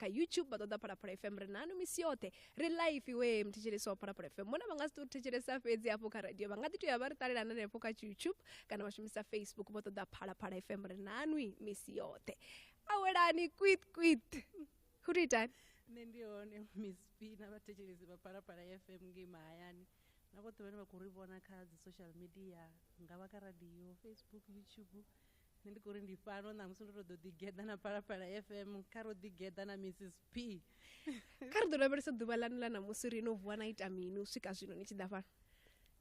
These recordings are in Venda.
kha youtube vha ṱoḓa phalaphala fm ri nanu misi yoṱhe ri live iwe mthetshelesi wa phalaphala fm mona vha nga si tou thetshelesa fhedzi hafho kha radio vha nga ḓi tou ya vha ri ṱalela na hanefho kha youtube kana vha shumisa facebook vho ṱoḓa phalaphala fm ri nanwi misi yoṱhe awelani kwit kwit hu tou itani nṋe ndi hone miss p na vhathetshelesi vha phalaphala fm ngei mahayani na vhoṱhe vhane vha khou ri vhona kha dzi social media nga vha kha radio facebook youtube nṋe ndi khou ri ndi fhano ṋamusi ndo to ḓo ḓigeḓa na phalaphala fm kha ro ḓigeḓa na mrs p kha ri ḓo lavhelesa ḓuvha lanu ḽa ṋamusi ri no vuwa na ita mini u swika zwino ni tshi ḓa fhano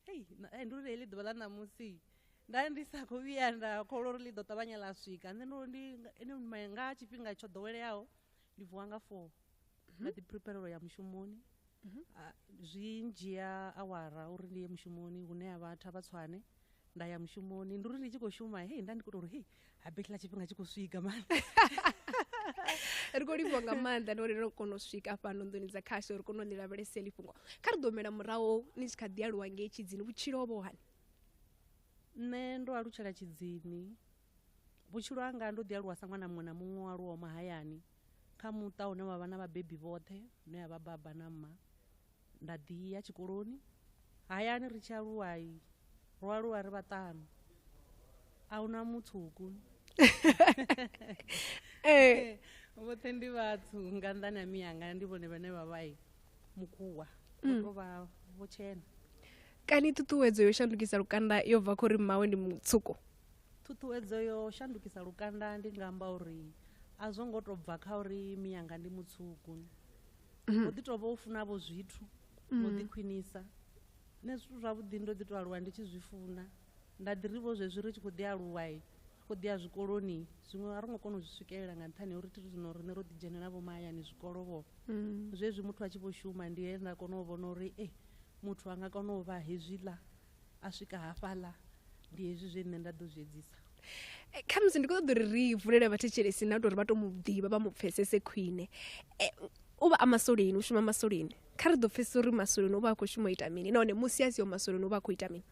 hei eh, ndi uri heḽi ḓuvha ḽa ṋamusi nda ndi sa khou vhuya nda kholwa uri ḽi ḓo ṱavhanya ḽa swika nṋe ndo ndi nga tshifhinga tsho ḓoweleaho ndi vuwa nga four nda ḓi prepare u ya mushumoni Ah, zwi ndzhia awara uri ndi ye mushumoni hune ha vhathu a vha tswane nda ya mushumoni ndi uri ndi tshi khou shuma hei nda ndi khou tou uri hei ha betla tshifhinga tshi khou swika mani ri khou livhiwa nga maanḓa ndi uri ro kona u swika fhano nḓuni dza khasho ri kona u ḽi lavhelese lifhungo kha ri ḓo humela murahu ni tshi kha ḓi aluwa ngei tshidzini vhutshilo ho vha ho hani nṋe ndo alutshela tshidzini Vhutshilo hanga ndo ḓi aluwa sa ṅwana muṅwe na muṅwe o aluwaho mahayani kha muṱa une wa vha na vhabebi vhoṱhe hune ya vha baba na mma nda ḓi ya tshikoloni hayani ri tshi aluwa ro aluwa ri vhaṱanu a huna mutsuku eh. vhoṱhe ndi vhathu nga nḓani ya miyanga ndi vhone vhane vha vha mukuwa vho mm. to vha vho tshena kani ṱuṱuwedzo yo shandukisa lukanda yo bva khori mmawe ndi mutsuku Ṱhuṱhuwedzo yo shandukisa lukanda ndi nga amba uri a zwo ngo to bva kha uri miyanga ndi mutswuku mhm. o ḓi to vha u funa vho zwithu no mhm. ḓi khwinisa nṋe zwithu zwavhuḓi ndo ḓi to aluwa ndi tshi zwi funa nda ḓi ri vho zwezwi ri tshi khou ḓi aluwa khou ḓi ya zwikoloni zwiṅwe a ro ngo kona u zwi swikelela nga nṱhani uri thiri zwino riṋe ro ḓi dzhenela vho mahayani zwikolo vho mm. zwezwi muthu a tshi vho shuma ndi he nda kona u vhona uri e muthu a nga kona u vha hezwiḽa a swika hafhaḽa ndi hezwi zwe nṋe nda ḓo zwi edzisa eh, khamusi ndi khou ṱoḓa uri ri vulele vhathetshelesi na tori vha to mu ḓivha vha mu pfesese khwine eh, u vha a masoleni u shuma masoleni kha ri ḓo pfesesa uri masoleni u vha a khou shuma u ita mini nahone musi a siho masoleni u vha a khou ita mini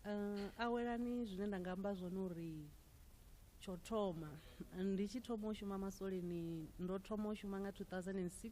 eh, awelani zwine nda nga amba zwone uri tsho thoma ndi tshi thoma u shuma masoleni ndo thoma u shuma nga 2006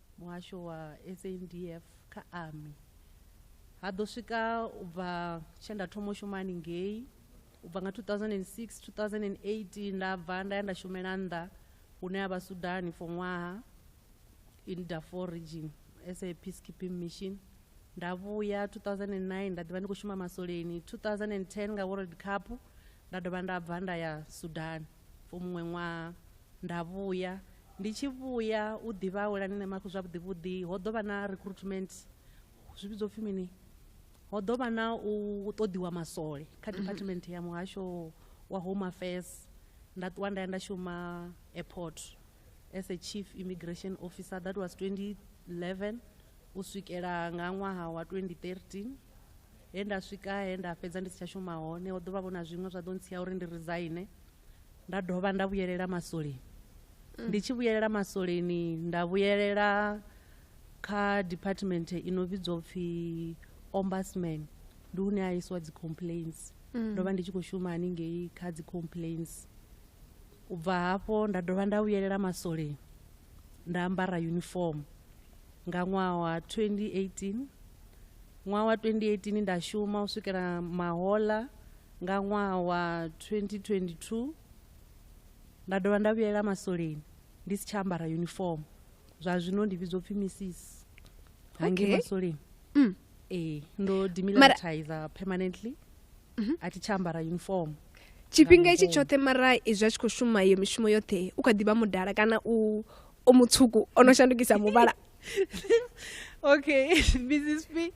muhasho wa SANDF kha Army ha ḓo swika u bva tshe nda thoma u shuma haningei u bva nga 2006 2008 nda bva nda ya nda shumela nnḓa hune ha vha Sudan for ṅwaha in Darfur region as a peacekeeping mission nda vhuya 2009 nda ḓivha ndi khou shuma masoleni 2010 nga world cup nda dovha nda bva nda ya Sudan For muṅwe ṅwaha nda vhuya ndi tshi vhuya u ḓivha a welani na mafhi zwavhuḓi vhuḓi ho ḓo vha na recruitment zwi vhidzwa upfhi mini ho ḓo vha na u ṱoḓiwa masole kha mhm. department ya muhasho wa home affairs nda ṱuwa nda ya nda shuma airport as a chief immigration officer that was 2011 u swikela nga ṅwaha wa 2013 he nda swika he nda fhedza ndi si tsha shuma hone ho ḓovha vho na zwiṅwe zwa ḓo ntsia uri ndi resign nda dovha nda vhuyelela maswoleni mm. ndi tshi vhuyelela maswoleni nda vhuyelela kha department i no vhidzwa upfi ombudsman ndi hune a iswa dzi complaints mm. ndo vha ndi tshi khou shuma haningei kha dzi complaints U bva hafho nda dovha nda vhuyelela maswoleni nda ambara yunifomo nga ṅwaha wa 2018 ṅwaha wa 2018 nda shuma u swikela mahola nga ṅwaha wa 2022 nda dovha nda vhuyelela maswoleni ndi si tsha ambara yunifomo zwa zwino ndi vhidzwa upfhi missis hangi okay. maswoleni mm. ee ndo demilitarizer permanently mm -hmm. a thi tsha ambara yunifomo tshifhinga itshi tshoṱhe mara izwi a tshi khou shuma iyo mishumo yoṱhe u kha ḓivha mudala kana u o mutswuku o no shandukisa muvhala okay mrs p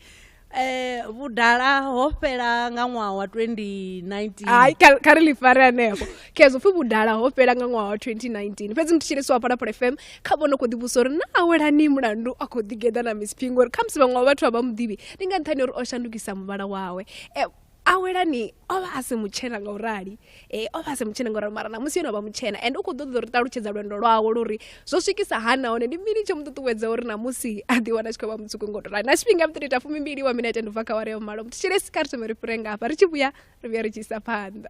eh vhudala ho fhela nga ṅwaha wa 2019 hai kha ri ḽifare hanefho khezwo pfhi vhudala ho fhela nga ṅwaha wa 2019 fhedzi mthetshelesi wa phalaphala fm kha vho no khou ḓivhusa uri na awelani mulandu a khou ḓigeḓa na miss phi ngori khamusi vhaṅwe wa vhathu a vha muḓivhi ndi nga nṱhani uri o shandukisa muvhala wawe eh, awelani o vha a si mutshena nga u rali e, o vha a si mutshena nga u rali mara ṋamusi yo no vha mutshena and u khou ḓoḓa uri ṱalutshedza lwendo lwawe luri zwo swikisa ha nahone ndi mini tsho mu ṱuṱuwedza uri ṋamusi a ḓi wana tshi khou vha mutsuku nga u rali na tshifhinga muthu ita fumimbili wa minete ndi bva kha ware ya malo muthu tshilesi kha ri thome ri fhire nga hafha ri tshi vhuya ri vhuya ri tshi isa phanḓa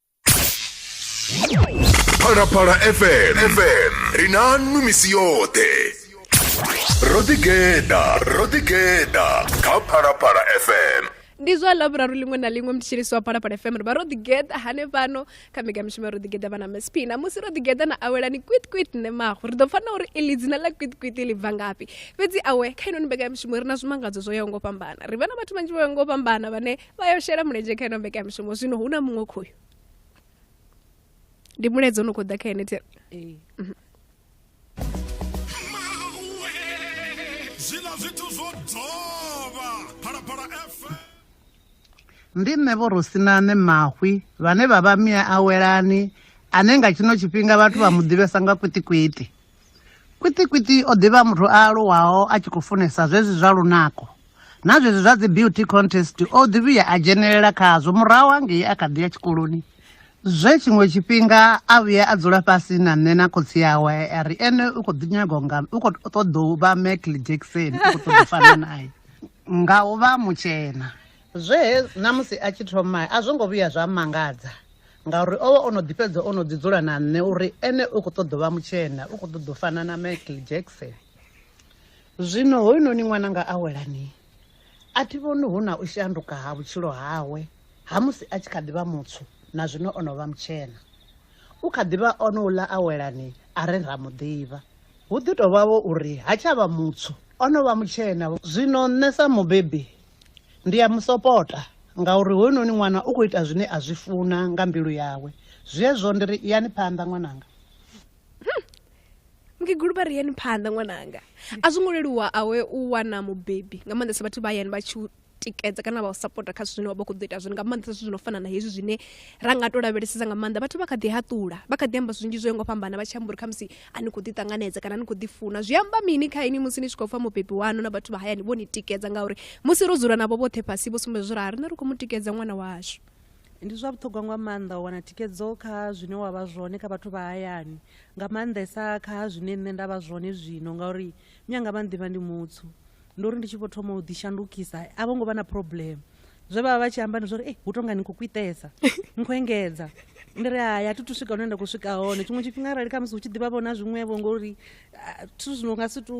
phalaphala fm fm ri na nnu misi yoṱhe ro ḓigeḓa ro ḓigeḓa kha phalaphala fm ndi zwa ḽavhuraru ḽiṅwe na ḽiṅwe mutshilisi wa phalaphala fm ri vha ro ḓigeḓa hanefhano kha mega mishumo ro ḓigeḓa vha na msp na musi ro ḓigeḓa na awelani kwitkwit nṋe mago ri ḓo pfa na uri iḽi dzina ḽa kwitkwit ḽi bva ngafhi fhedzi awe kha inoni mbekanyamishumo ri na zwimangadzo zwo yaho ngo fhambana ri vha na vhathu vhanzhi vho yaho ngo fhambana vhane vha yo shela mulenzhe kha ino mbekamishumo zwino hu na muṅwe khoyu ndi mulaedza ono khou ḓa kha ene thero ee mhm. zwiḽa zwithu zwo dovha phalaphala fm ndi nṋe vho rosinane mahwi vhane vha vha mia awelani ane nga tshino tshifhinga vhathu vha mu ḓivhesa nga kwitikwiti Kwiṱikwiṱi o ḓivha muthu a aluwaho a tshi khou funesa zwezwi zwa lunako na zwezwi zwa dzi beauty contest o ḓi vhuya a dzhenelela khazwo murahu hangei a kha ḓi ya tshikoloni zwe tshiṅwe tshifhinga a vhuya a dzula fhasi na nṋe na khotsi yawe a ri ene u khou ḓi nyago nga u khou ṱoḓa u vha Michael Jackson u khou ṱoḓa u fana nae nga u vha mutshena zwe na musi a tshi thoma a zwo ngo vhuya zwa mangadza ngauri o vha o no ḓi fhedza o no ḓi dzula na nṋe uri ene u khou ṱoḓa vha mutshena u khou ṱoḓa u fana na michael jackson zwino hoyunoni ṅwananga a welani a thi vhoni hu na u shanduka ha vhutshilo hawe ha musi a tshi kha ḓi vha mutswu na zwino o no vha mutshena u kha ḓi vha o no ula a welani a re ra mu ḓivha hu ḓi tou vhavho uri ha tsha vha mutswu o no vha mutshena zwino nṋe sa mubebi Ndi a mu sopota, ngauri hoyunoni ṅwana u khou ita zwine a zwi funa nga mbilu yawe. Zwezwo ndi ri, Iyani phanḓa ṅwananga. Mukegulu vha ri, Iyani phanḓa ṅwananga. A zwo ngo leluwa awe u wana mubebi, nga maanḓesa vhathu vha hayani vha tshi u tikedza kana vha u sapota kha zwithu zwine wa vha u khou ḓo ita zwone, nga maanḓesa zwithu zwi no fana na hezwi zwine ra nga tou lavhelesesa nga maanḓa. Vhathu vha kha ḓi haṱula, vha kha ḓi amba zwinzhi zwo yaho nga u fhambana vha tshi amba uri khamusi a ni khou ḓi ṱanganedza kana ni khou ḓi funa zwi amba mini kha ini musi ni tshi khou pfa mubebi wanu na vhathu vha hayani vho ni tikedza ngauri musi ro dzula navho vhoṱhe fhasi vho sumbedza zwo rali na ri khou mu tikedza ṅwana washu ndi zwa vhuṱhogwa nga maanḓa u wana thikedzo kha zwine wa vha zwone kha vhathu vha hayani nga maanḓesa kha zwine nṋe nda vha zwone zwino ngauri mianga vha nḓivha ndi mutsu ndi uri ndi tshi vho thoma u ḓishandukisa a vho ngo vha na problem zwe vha vha vha tshi amba ndi zwori hu tonga ni khou kwitesa ni khou engedza ndi ri hai a thi thu swika hune nda khou swika hone tshiṅwe tshifhinga arali khamusi hu tshi ḓivha vhona zwiṅwevho ngori zwithu zwino nga si tu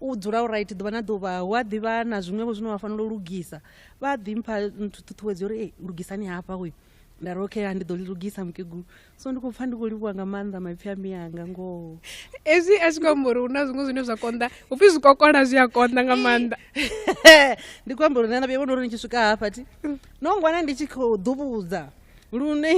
u dzula u right ḓuvha na ḓuvha hu a ḓivha na zwiṅwevho zwine wa fanela u lugisa vha ḓi mpha nthu ṱhuṱhuwedzo uri lugisani hafha hoyu nda ri okay ndi ḓo lugisa mukegulu so ndi khou pfa ndi khou livhuwa nga maanḓa maipfi a miyanga ngoho ezwi a tshi khou amba uri hu na zwiṅwe zwine zwa konḓa hu pfi zwikokola zwi a konḓa nga maanḓa ndi khou amba uri nṋe na vhuya vhona uri ndi tshi swika hafhathi no ngwana ndi tshi khou ḓuvhudza lune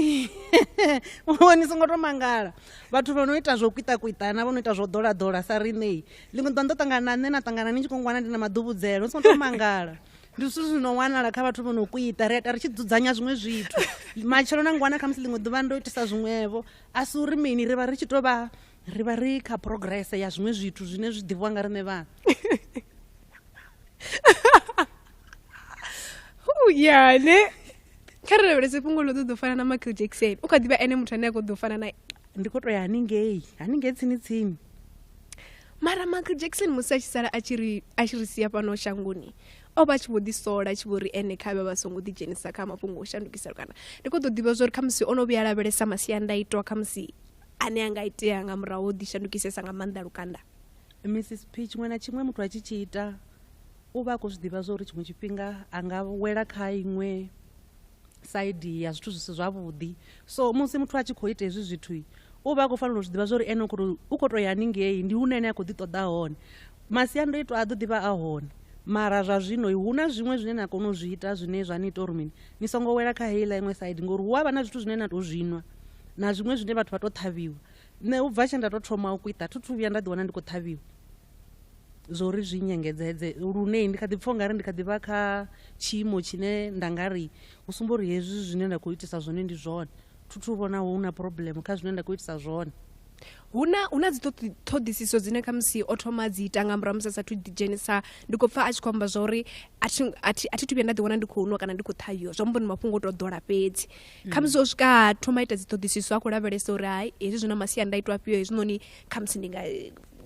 ni songo to mangala vhathu vha no ita zwo kwitakwitana vho no ita zwo ḓolaḓola sa riṋei ḽiṅwe ḓa ndo ṱangana na nṋe na ṱangana ni tshi khou ngwana ndi na maḓuvhudzelo ni songo to mangala ndi zwithu zwi no wanala kha vhathu vho no kuita ri ita ri tshi dzudzanya zwiṅwe zwithu matshelo na ngwana khamusi ḽiṅwe ḓuvha ndo itisa zwiṅwevho a si uri mini ri vha ri tshi tou vha ri vha ri kha progress ya zwiṅwe zwithu zwine zwi ḓivhiwa nga riṋe vhana yane kha ri lavhelese fhungo ḽo ṱoḓo fana na michael jackson u kha ḓivha ene muthu ane a kho ḓo fana na ndi kho to ya haningei haningei tsini tsini mara michael jackson musi a tshi sala a tshi ri a tshi ri sia fhano shangoni o vha a tshi vho ḓi sola tshi vho ri ene kha vhe vha songo ḓi dzhenisa kha mafhungo o shandukisa lukanda ndi kho ḓo ḓivha zwa uri khamusi o no vhuya lavhelesa masiandaitwa khamusi ane a nga itea nga murahu o ḓi shandukisesa nga maanḓa lukanda mrs p tshiṅwe na tshiṅwe muthu a tshi tshi ita u vha a khou zwi ḓivha zwa uri tshiṅwe tshifhinga a nga wela kha iṅwe saidi ya zwithu zwi si zwavhuḓi so musi muthu a tshi khou ita hezwi zwithu u vha a khou fanela u zwi ḓivha zwa uri ene u khou tou ya haningei ndi hune ene a khou ḓi ṱoḓa hone masiandoitwa a ḓo ḓi vha a hone mara zwa zwino hu na zwiṅwe zwine na kona u zwi ita zwine zwa ni ita uri mini ni songo wela kha heiḽa iṅwe saidi ngori hu a vha na zwithu zwine na tou zwinwa na zwiṅwe zwine vhathu vha tou ṱhavhiwa nṋe u bva tshe nda tou thoma u kwita thi thu vhuya nda ḓiwana ndi khou ṱhavhiwa zwo ri zwi nyengedzedze lune ndi kha ḓi pfha ungari ndi kha ḓi vha kha tshiimo tshine nda nga ri hu sumba uri hezwi zwine nda khou itisa zwone ndi zwone thuthu vhona hu na problem kha zwine nda khou itisa zwone huna huna dzi ṱhoḓisiso dzine kha musi o thoma dzi ita nga murahu musi asathu ḓi dzhenisa ndi khou pfha a tshi khou amba zwa uri a thi a thi a thi thu vhuya nda ḓi wana ndi khou nwa kana ndi khou ṱhahiwa zwa mbo ndi mafhungo o to ḓola fhedzi mm. kha musi o swika thoma ita dzi ṱhoḓisiso a khou lavhelesa uri hai hezwi zwi na masiandaitwa afhio hezwinoni kha musi ndi nga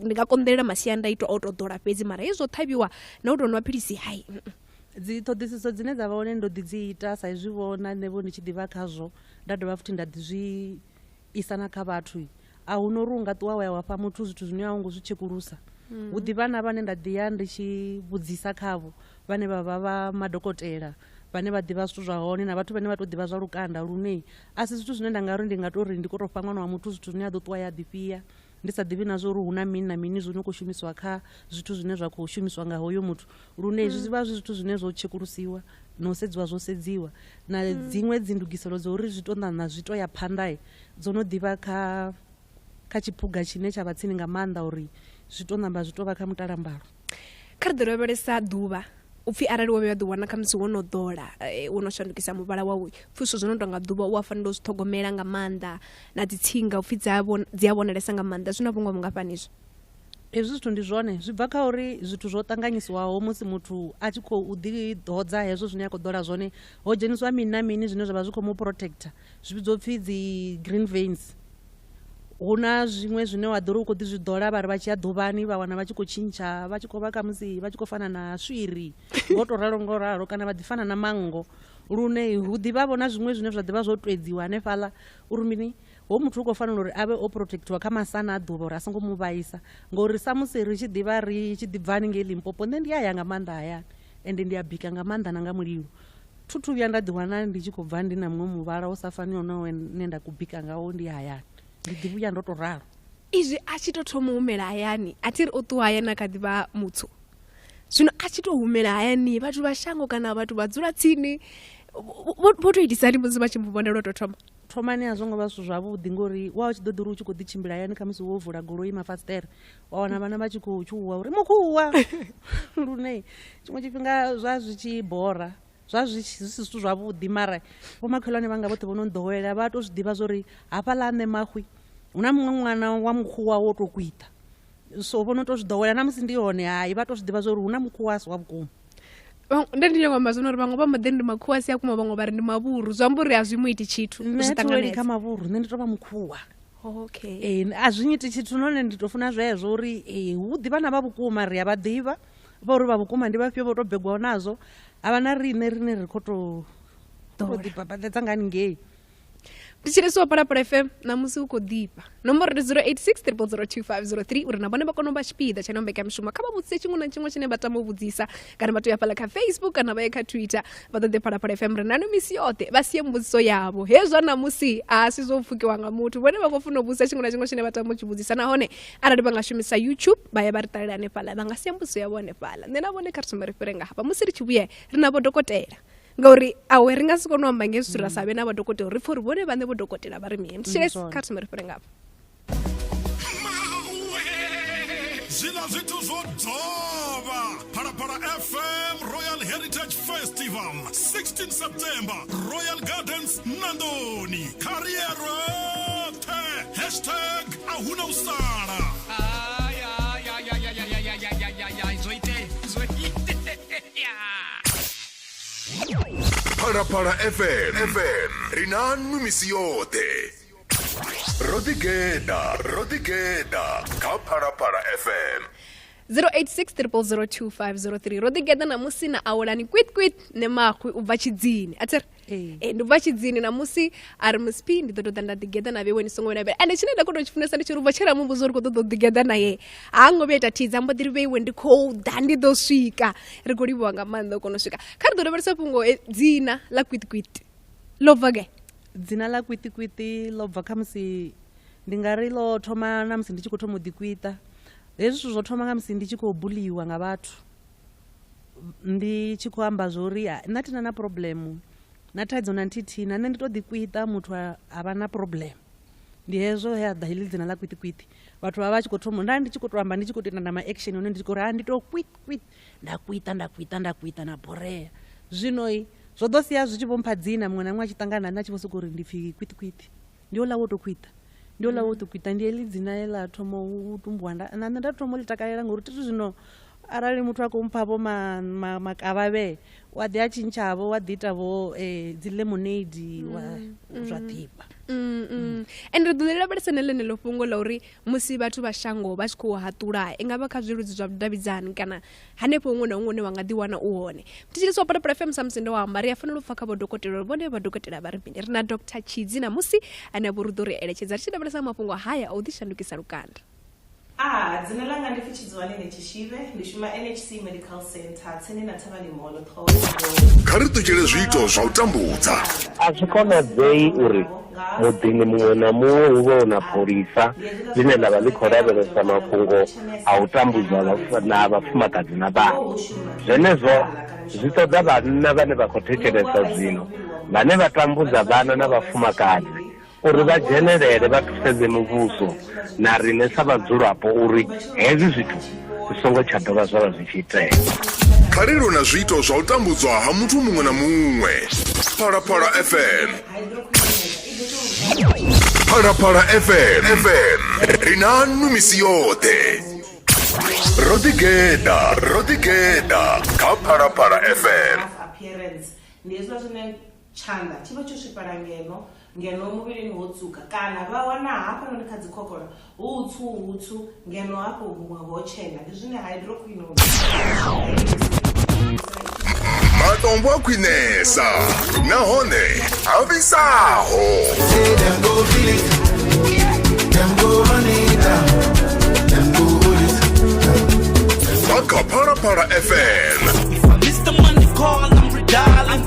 ndi nga konḓelela masiandaitwa o to ḓola fhedzi mara hezwo ṱhavhiwa na u tou nwa philisi hai dzi ṱhoḓisiso dzine dza vha hone ndo ḓi dzi ita sa izwi vho na nṋe vho ndi tshi ḓivha khazwo nda dovha futhi nda ḓi zwi isa na kha vhathu a hu no uri u nga ṱuwa wa ya wa fha muthu zwithu zwine a hu ngo zwi tshekulusa mm. hu ḓivha na vhane nda ḓi ya ndi tshi vhudzisa khavho vhane vha vha vha madokotela vhane vha ḓivha zwithu zwa hone na vhathu vhane vha tou ḓivha zwa lukanda lune a si zwithu zwine nda nga ri ndi nga tou ri ndi khou tou fha ṅwana wa muthu zwithu zwine a ḓo ṱuwa ya ḓifhia ndi sa ḓivhi na zwa uri hu na mini na mini zwo no khou shumisiwa kha zwithu zwine zwa khou shumiswa nga hoyo muthu lune zwi mm. vha zwi zwithu zwine zwo tshekulusiwa na u sedziwa zwo sedziwa na mm. dziṅwe dzindugiselo dza uri zwi to ṋaṋa zwi to ya phanḓae dzo no ḓivha kha kha tshiphuga tshine tsha vha tsini nga maanḓa uri zwi to ṋamba zwi to vha kha mutalambalo kha ri ḓi lavhelesa ḓuvha upfhi arali wo vhuya ḓi wana khamusi wo no ḓola eh, wo no shandukisa muvhala wau pfhi zwithu zwo no tonga ḓuvha u a fanela u zwi ṱhogomela nga maanḓa na dzi tsinga upfhi dzi a vhon- dzi a vhonalesa nga maanḓa zwi na vhungoho vhungafhani izwo hezwi zwithu ndi zwone zwi bva kha uri zwithu zwo ṱanganyisiwaho musi muthu a tshi khou ḓiḓodza hezwo zwine a khou ḓola zwone ho dzheniswa mini na mini zwine zwa vha zwi khou mu protector zwi vhidzwa upfhi dzi green veins hu na zwiṅwe zwine wa ḓo ri u khou ḓi zwi ḓola vha ri vha tshi ya ḓuvhani vha wana vha tshi khou tshintsha vha tshi khou vha khamusi vha tshi khou fana na swiri ngo to ralo ngo ralo kana vha ḓi fana na manngo lune hu ḓivha vhona zwiṅwe zwine zwa ḓivha zwo twedziwa hanefhaḽa uri mini ho muthu u khou fanela uri a vhe o protectiwa kha masana a ḓuvha uri a songo mu vhaisa ngori samusi ri tshi ḓivha ri tshi ḓi bva haningei limpopo nṋe ndi a ya nga maanḓa hayani Ende ndi a bika nga maanḓa na nga mulilo. Thu thu vhuya nda ḓiwana ndi tshi khou bva ndi na muṅwe muvhala u sa faniho na we ne nda ku bika ngawo ndi hayani. Ndi ḓi vhuya ndo tou ralo. Izwi a tshi tou thoma u humela hayani, a thi ri o ṱuwa hayani a kha ḓi vha mutswu. Zwino a tshi tou humela hayani, vhathu vha shango kana vhathu vha dzula tsini vho vho tou itisa hani musi vha tshi mu vhona lwo tou thoma? Thomani a zwo ngo vha zwithu zwavhuḓi ngori wa u tshi ḓo ḓi ri u tshi khou ḓi tshimbila hayani khamusi wo vula goloi mafasiṱere wa wana vhana vha tshi khou tshuwa uri mukhuwa lune tshiṅwe tshifhinga zwa zwi tshi bora zwa zwi si zwithu zwavhuḓi mara vhomakhelwane vhanga vhoṱhe vho no nḓowela vha to zwi ḓivha zwa uri hafha ḽa nṋe mahwi hu na muṅwe ṅwana wa mukhuwa wo to kwita so vho no to zwi ḓowela na musi ndi hone hai vha to zwi ḓivha zwa uri hu na mukhuwa a si wa vhukuma nda ndi nyoko amba zwino uri vhaṅwe vha mode ndi makhuwa si a kuma vhaṅwe vha ri ndi mavhuru zwi amba uri a zwi mu iti tshithu zwi ṱanganedza kha mavhuru nṋe ndi to vha mukhuwa okay ee a zwi nyiti tshithu none ndi to funa zwezwo uri ee hu ḓi vhana vha vhukuma ri a vha ḓivha vha uri vha vhukuma ndi vhafhio vho to begwaho nazwo a vha na riṋe rine ri khou to to Ḓola. ḓibabaḓedza nga haningei ndi tshilisi wa palapala fm ṋamusi u khou ḓifha nomboro ndi 086 uri na vhone vha kone u vha tshipiḓa tsha no mbekamishumo kha vha vhudzise tshiṅwe na tshiṅwe tshine vha tama u vhudzisa kana vha to ya fhala kha facebook kana vha ye kha twitter vha ṱoḓe phalaphala fm ri nano misi yoṱhe vha sie mbudziso yavho hezwa namusi a si zwo pfukiwa nga muthu vhone vha khou funa u vhudzisa tshiṅwe na tshiṅwe tshine vha tama u tshi vhudzisa nahone arali vha nga shumisa youtube vha ya vha ri ṱalela hanefhala vha nga sie mbudziso yavho hanefhala nṋe na vhone kha ri thoma ri fhire nga hafha musi ri tshi vhuye ri na vhodokotela ngauri awe ri nga si kone u amba ngezwi ra sa vhe na vhodokotela ri pfha uri vhone vhaṋe vhodokotela vha ri mini mshelesi kha ri thoma ri fhire nga hafha zwiḽa zwithu zwo dzovha phalaphala fm royal heritage festival 16 september royal gardens nandoni kariero the hashtag ahuna u sala phalaphala fm fm ri na nnu misi yoṱhe ro ḓigeḓa ro ḓigeḓa kha phalaphala fm 0860002503 ro ḓigeḓa ṋamusi na awelani kwitkwit ne maxwi u bva tshidzini a thiri ee eh, ndi bva tshidzini ṋamusi a ri musp ndi ḓo tou ḓa nda ḓigeḓa na vhewe ni songo vhena vhea ende tshine nda kho tou tshi funesa ndi tshi ri ubva tshela muvhudzo ri khou ṱoḓa u ḓigeḓa naye ha ngo vhuya ita thidza mbo ḓi ri vheiwe ndi khou ḓa ndi ḓo swika ri khou livhiwa nga maanḓa u kona u swika kha ri ḓo lavhelesa fhungo eh, dzina ḽa kwitkwit ḽo bva ge dzina ḽa kwitikwiti ḽo bva kha musi ndi nga ri ḽo thoma na musi ndi tshi khou thoma u ḓikwita hezwi zwithu zwo thoma nga musi ndi tshi khou buliwa nga vhathu ndi tshi khou amba zwo uri nna thina na problem na thaidzo na nthihi na nṋe ndi to ḓikwita muthu a vha na problem ndi hezwo he a ḓa heḽi dzina ḽa kwitikwiti vhathu vha vha tshi khou thoma nda ndi tshi khou to amba ndi tshi khou tou ita na ma action one ndi tshi khou ri ha ndi to kwit kwit nda kuita nda kuita nda kuita na borea zwino zwo ḓo sia zwi tshi vho mpha dzina muṅwe na muṅwe a tshi ṱangana na nṋe a tshi vho sokou uri ndi pfhi kwitikwiti ndi ola wo to kuita ndi ola wo to kuita ndi heḽi dzina he ḽa thoma u tumbuwa na nṋe nda thoma u ḽi takalela ngauri thi zwino arali muthu a khou mpha vho makavhavhe u a ḓi a tshintshavho wa ḓi ita vho um eh, dzi lemonade wa mm, zwa mm. ḓifha mm, and ri ḓo lavhelesa na ḽeneḽo fhungo ḽa uri musi vhathu vha shango vha tshi khou haṱula i nga vha kha zwiludzi zwa vhudavhidzani kana hanefho huṅwe na huṅwe hune wa nga ḓiwana u hone thetshelesi wa parapara fm samusi ndo wa amba ri a fanela u pfa kha vhodokotela uri vhone vhadokotela vha ri mini ri na dr tshidzi na musi ane vho ri ḓo ri eletshedza ri tshi lavhelesa mafhungo haya a u ḓishandukisa lukanda a dzina langa ndi pfi Zwani ni Tshishive, ndi shuma NHC Medical Centre tsini na Thavhani Mall, Ṱhohoyanḓou. Kha ri ṱutshele zwiito zwa u tambudza. A zwi konadzei uri muḓini muṅwe na muṅwe hu vhe hu na pholisa ḽine ḽa vha ḽi khou lavhelesa mafhungo a u tambudzwa na vhafumakadzi na vhana. Zwenezwo zwi ṱoḓa vhanna vhane vha khou thetshelesa zwino vhane vha tambudza vhana na vhafumakadzi uri vha dzhenelele vha thusedze muvhuso na riṋe sa vhadzulapo uri hezwi zwithu zwi songo tsha dovha zwa vha zwi tshi itea kha ri lwe na zwiito zwa u tambudzwa ha muthu muṅwe na muṅwe phalaphala fm phalaphala fm fm ri na nnu misi yoṱhe ro ḓigeda ro ḓigeda kha phalaphala fm appearance ndi hezwiḽa zwine Tshanḓa tshi vha tsho swifhala ngeno, ngeno muvhilini ho tswuka, kana vha wana hafhanoni kha dzikhokhola hu hutswu-hutswu, ngeno hafho huṅwe ho tshena. Ndi zwine hydroquinone ya ilugisela tshivhungu. Matombo a khwinesa nahone a vhisaho. Say them go feel it, them go run it down, them go hold it. Bva kha Phalaphala FM. Mr. Money Call, I'm redialing.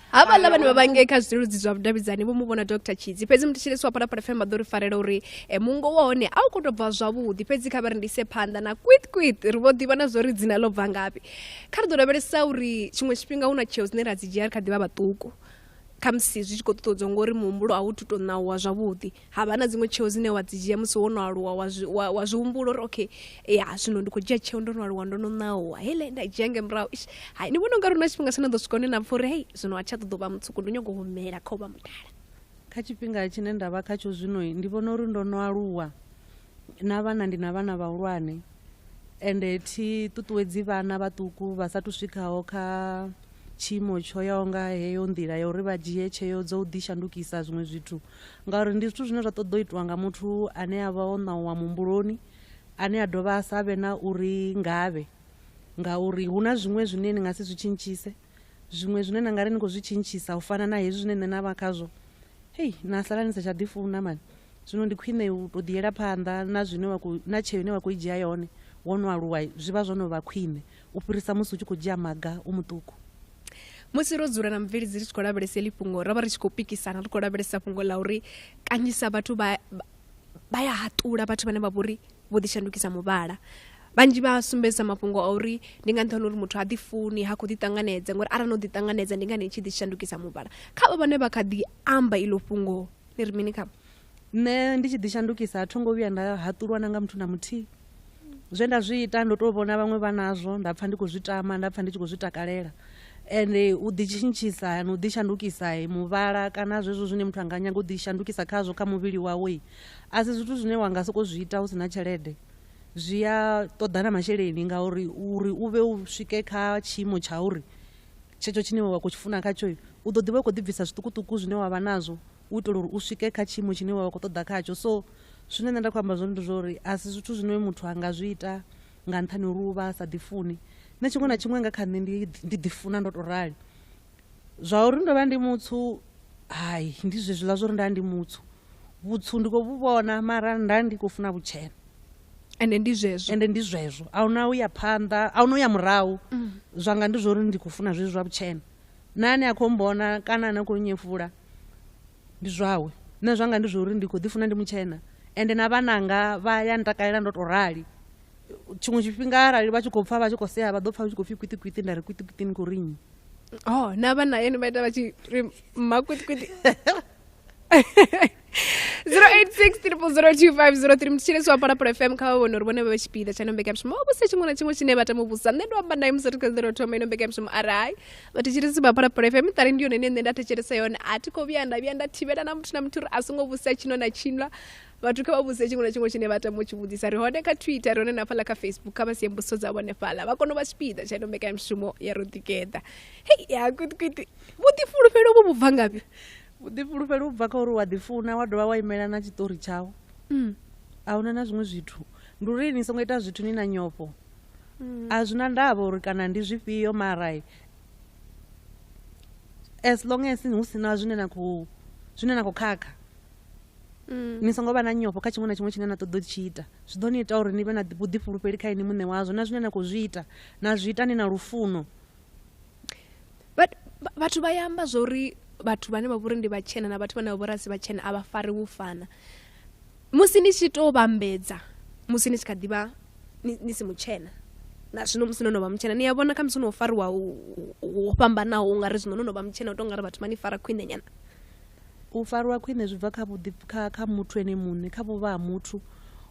havhaḽa vhane vha vha ngei kha zwileludzi zwa vhudavhidzani vho mu vhona dr tshidzi fhedzi muthetshelesi wa phalaphala fm vha ḓo ri farela uri e, mungo wa hone a u khou tou bva zwavhuḓi fhedzi kha vha ri ndise phanḓa na kwit kwit ri vho ḓivha na zwo ri dzina ḽo bva ngafhi kha ri ḓo lavhelesa uri tshiṅwe tshifhinga hu na tsheo dzine ra dzi dzhia ri kha ḓi vha vhaṱuku khamusi zwi tshi khou ṱuṱuwedzwa ngori muhumbulo a wu tu tou ṋauwa zwavhuḓi ha vha na dziṅwe tsheo dzine wa dzi dzhia musi wo no aluwa wa zwi wa, wa zwi humbula uri okay ya zwino ndi khou dzhia tsheo ndo no aluwa ndo no ṋauwa hele nda dzhia nge murahu ish hai ni vhona ungari hu na tshifhinga tshine ḓo swika hune na pfha uri hei zwino a tsha ṱoḓo vha mutsuku ndo nyago humela kha u vha mudala kha tshifhinga tshine nda vha khatsho zwino ndi vhona uri ndo no aluwa na vhana ndi na vhana vhahulwane ende thi ṱuṱuwedzi vhana vhaṱuku vha sa thu swikhaho kha tshiimo tsho yaho nga heyo nḓila ya uri vha dzhie tsheo dzo u ḓi shandukisa zwiṅwe zwithu ngauri ndi zwithu zwine zwa ṱoḓa u itiwa nga muthu ane a vha o ṋauwa muhumbuloni ane a dovha a sa vhe na uri ngavhe ngauri hu na zwiṅwe zwine ni nga si zwi tshintshise Zwiṅwe zwine na nga ri ni khou zwi tshintshisa u fana na hezwi zwine nṋe na vha khazwo, hei na sala ni sa tsha ḓifuna mani. Zwino ndi khwine u tou ḓiyela phanḓa na zwine wa khou na tsheo ine wa khou i dzhia yone wo no aluwa zwi vha zwo no vha khwine u fhirisa musi u tshi khou dzhia maga u muṱuku. Musi ro dzula na mubveledzi ri tshi khou lavhelesa heḽi fhungo, ro vha ri tshi khou pikisana ri khou lavhelesa fhungo ḽa uri kanzhisa vhathu vha vha ya haṱula vhathu vhane vha vhori vho ḓi shandukisa muvhala vhanzhi vha sumbedzisa mafhungo a uri ndi nga nṱhani uri muthu ha ḓi funi ha khou ḓi ṱanganedza ngori arali no ḓi ṱanganedza ndi ngani tshi ḓi shandukisa muvhala kha vha vhane vha kha ḓi amba iḽo fhungo ni ri mini kha nṋe ndi tshi ḓi shandukisa a tho ngo vhuya nda haṱulwa na nga muthu na muthihi zwe nda zwi ita ndo tou vhona vhaṅwe vha nazwo nda pfha ndi khou zwi tama nda pfha ndi tshi khou zwi takalela ende u ḓitshintshisa na u ḓishandukisa muvhala kana zwezwo zwine muthu a nga nyaga u ḓishandukisa khazwo kha muvhili wawe a si zwithu zwine wa nga sokou zwi ita hu si na tshelede zwi a ṱoḓa na masheleni ngauri uri u vhe u swike kha tshiimo tsha uri tshetsho tshine wa khou tshi funa khatsho u ḓo ḓi vha u khou ḓibvisa zwiṱukuṱuku zwine wa vha nazwo u itela uri u swike kha tshiimo tshine wa vha khou ṱoḓa khatsho so zwine nṋe nda khou amba zwone ndi zwa uri a si zwithu zwine muthu a nga zwi ita nga nṱhani uri u vha a sa ḓifuni nṋe tshiṅwe na tshiṅwe nga kha nṋe ndi ḓifuna ndo tou rali zwa uri ndo vha ndi mutsu hai ndi zwezwiḽa zwa uri nda ndi mutsu vhutsu ndi khou vhu vhona mara nda ndi khou funa vhutshena ende ndi zwezwo ende ndi zwezwo a huna u ya phanḓa a huna u ya murahu mm. zwanga ndi zwa uri ndi khou funa zwezwi zwa vhutshena na ane a khou mbona kana ane a khou nyefula ndi zwawe nṋe zwanga ndi zwa uri ndi khou ḓifuna ndi mutshena ende na vhananga vha ya ntakalela ndo to rali tshiṅwe tshifhinga arali vha tshi khou pfa vha tshi khou sea vha ḓo pfa tshi khou pfi kwitikwiti nda ri kwitikwiti ni khou rinyi oh na vhana yeni vha ita vha tshi ri mmakwitikwiti 086 02503 mutshilesi wa phalaphala fm kha vha vhone uri vhone vha vhe tshipiḓa tsha ino mbekanyamushumo vha vhuse tshiṅwe na tshiṅwe tshine vha tama u vhusa nṋe ndo amba naye musi ri kha ḓero thoma ino mbekanyamushumo arai vhathetshelesi vha phalaphala fm ṱari ndi yone ine nṋe nda thetshelesa yone a thi khou vhuya nda vhuya nda thivhela na muthu na muthu uri a songo vhusa tshino na tshinwa vhathu kha vha vhuse tshiṅwe na tshiṅwe tshine vha tama u tshi vhudzisa ri hone kha twitter ri hone na fhaḽa kha facebook kha vha sie mbuso dza vhone fhaḽa vha kone u vha tshipiḓa tsha ino mbekanyamushumo ya ro ḓigeḓa hei ya kwitikwiti vhuḓifulufhelo vhu vhubva ngafhi vhuḓifulufhelo u bva kha uri wa ḓifuna wa dovha wa imela na tshiṱori tshau mm. a huna na zwiṅwe zwithu ndi uri ni songo ita zwithu ni na nyofho mm. a zwi na ndavha uri kana ndi zwifhio marai as long as hu si na zwine na khou zwine na khou khakha mm. ni songo vha na nyofho kha tshiṅwe na tshiṅwe tshine na ṱoḓa u tshi ita zwi ḓo ni ita uri ni vhe na vhuḓifulufheli kha ini muṋe wazwo na zwine na khou zwi ita na zwi ita ni na lufuno vhathu vha ya amba zwori vhathu vhane vha vhori ndi vhatshena na vhathu vhane vha vhori asi vhatshena a vha fari u fana musi ni tshi to vhambedza musi ni tshi kha ḓivha ni si mutshena na zwino musi no no vha mutshena ni a vhona kha musi no fariwa ho fhambanaho ungari zwino no no vha mutshena u to ngari vhathu vha ni fara khwine nyana U farwa khwine zwi bva kha vhuḓi kha kha muthu ene muṋe kha vhuvha ha muthu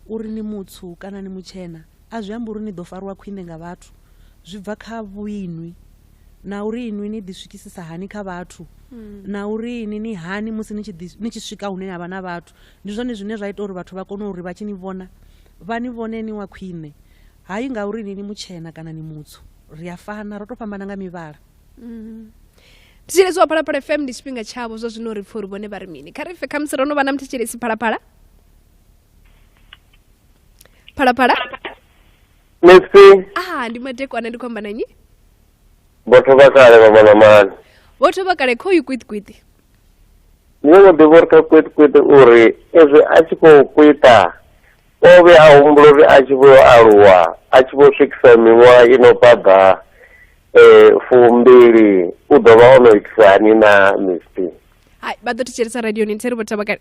uri ni mutswu kana ni mutshena a zwi ambi uri ni ḓo farwa khwine nga vhathu zwi bva kha vhuinwi na uri inwi ni ḓi swikisisa hani kha vhathu na uri ini ni hani musi ni tshi ḓi ni tshi swika hune na vha na vhathu ndi zwone zwine zwa ita uri vhathu vha kone uri vha tshi ni vhona vha ni vhone ni wa khwine hayi ngauri ini ni mutshena kana ni mutswu ri a fana ro to fhambana nga mivhala mm. thetshelesi wa phalaphala fm ndi tshifhinga tshavho zwa zwino ri pfha uri vhone vha ri mini kha ri fe khamusi ro no vha na muthetshelesi phalaphala phalaphala musi aha ndi madekwana ndi khou amba na nnyi vhathu vha kale vha vhona mani vho thoma kale kho yi kwitkwiti ni ngo ḓivha uri kha kwitkwiti uri ezwi a tshi khou kwita O vhe a humbula uri a tshi vho aluwa a tshi vho swikisa miṅwaha i no phaḓa um fumbili u ḓo vha o no itisa hani na misty hai vha ḓo thetshelesa radioni nthe ri vho thavha kale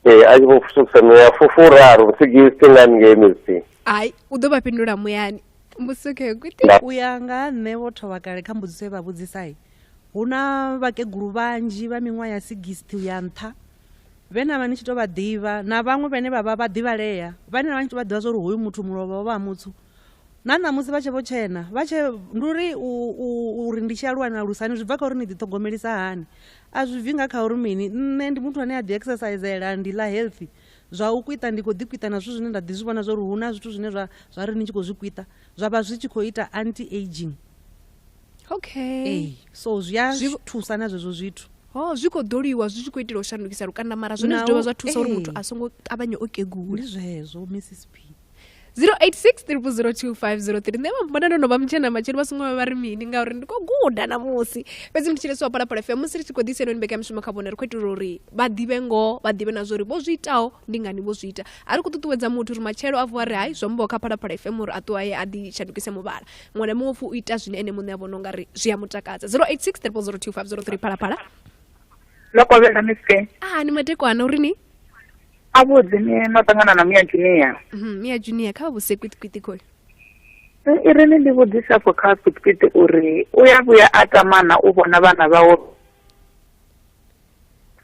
ee a tshi vho swikisa miṅwaha fufuraru sigisi nga ngei misty hai u ḓo vha fhindula muyani musuke kuti Nda- u ya nga ha nṋe vho thovha kale kha mbudziso ye vha vhudzisai hu na vhakegulu vhanzhi vha miṅwaha ya 60 u ya nṱha vhe na vha ni tshi tou vha ḓivha na vhaṅwe vhane vha vha vha ḓivhalea vhane na vha ni tshi tou vha ḓivha zwa uri hoyu muthu mulovha wa vha ha mutsu na ṋamusi vha tshe vho tshena vha tshe ndi uri uri ndi tshi aluwa na lusani zwi bva kha uri ni ḓiṱhogomelisa hani a zwi bvi nga kha uri mini nṋe ndi muthu ane a ḓi exercisela ndi ḽa healthy zwa u kwita ndi khou ḓi kwita na zwithu zwine nda ḓi zwi vhona zwa uri hu na zwithu zwine zwa zwa ri ni tshi khou zwi kwita zwa vha zwi tshi khou ita anti aging okay ee so zwi a Zwi- thusa na zwezwo zwithu oh zwi khou ḓoliwa zwi tshi khou itela u shandukisa lukanda mara zwone zwi Naho- dovha zwa thusa uri ee. muthu a songo ṱavhanye o kegula ndi zwezwo mrs p 0863002503 nṋe vhambona ndo no vha mutshena matshelo vha songo vha vha ri mini ngauri ndi khou guda namusi fhedzi ndi tshilesi wa palapala fm musi ri tshi khou ḓisa henoni mbekanyamushumo kha vhone ri khou itela uri vha ḓivhe ngoho vha ḓivhe na zwa uri vho zwi itaho ndi ngani vho zwi ita a ri khou ṱuṱuwedza muthu uri matshelo a vuwa ri hai zwo mboho kha palapala fm uri a ṱuwa ye a ḓi shandukise muvhala muṅwe na muṅwe pfu u ita zwine ene muṋe a vhona ungari zwi a mutakadza 086 3 phalaphala lokovhela mifhe ah ni madekwana uri ni avhuḓi ni no ṱangana na mia junior mhm, mia junior kha vhuse kwitikwiti khoyo i ri ni ndi vhudzisa fo kha kwitikwiti uri u ya vhuya a tamana u vhona vhana vhawo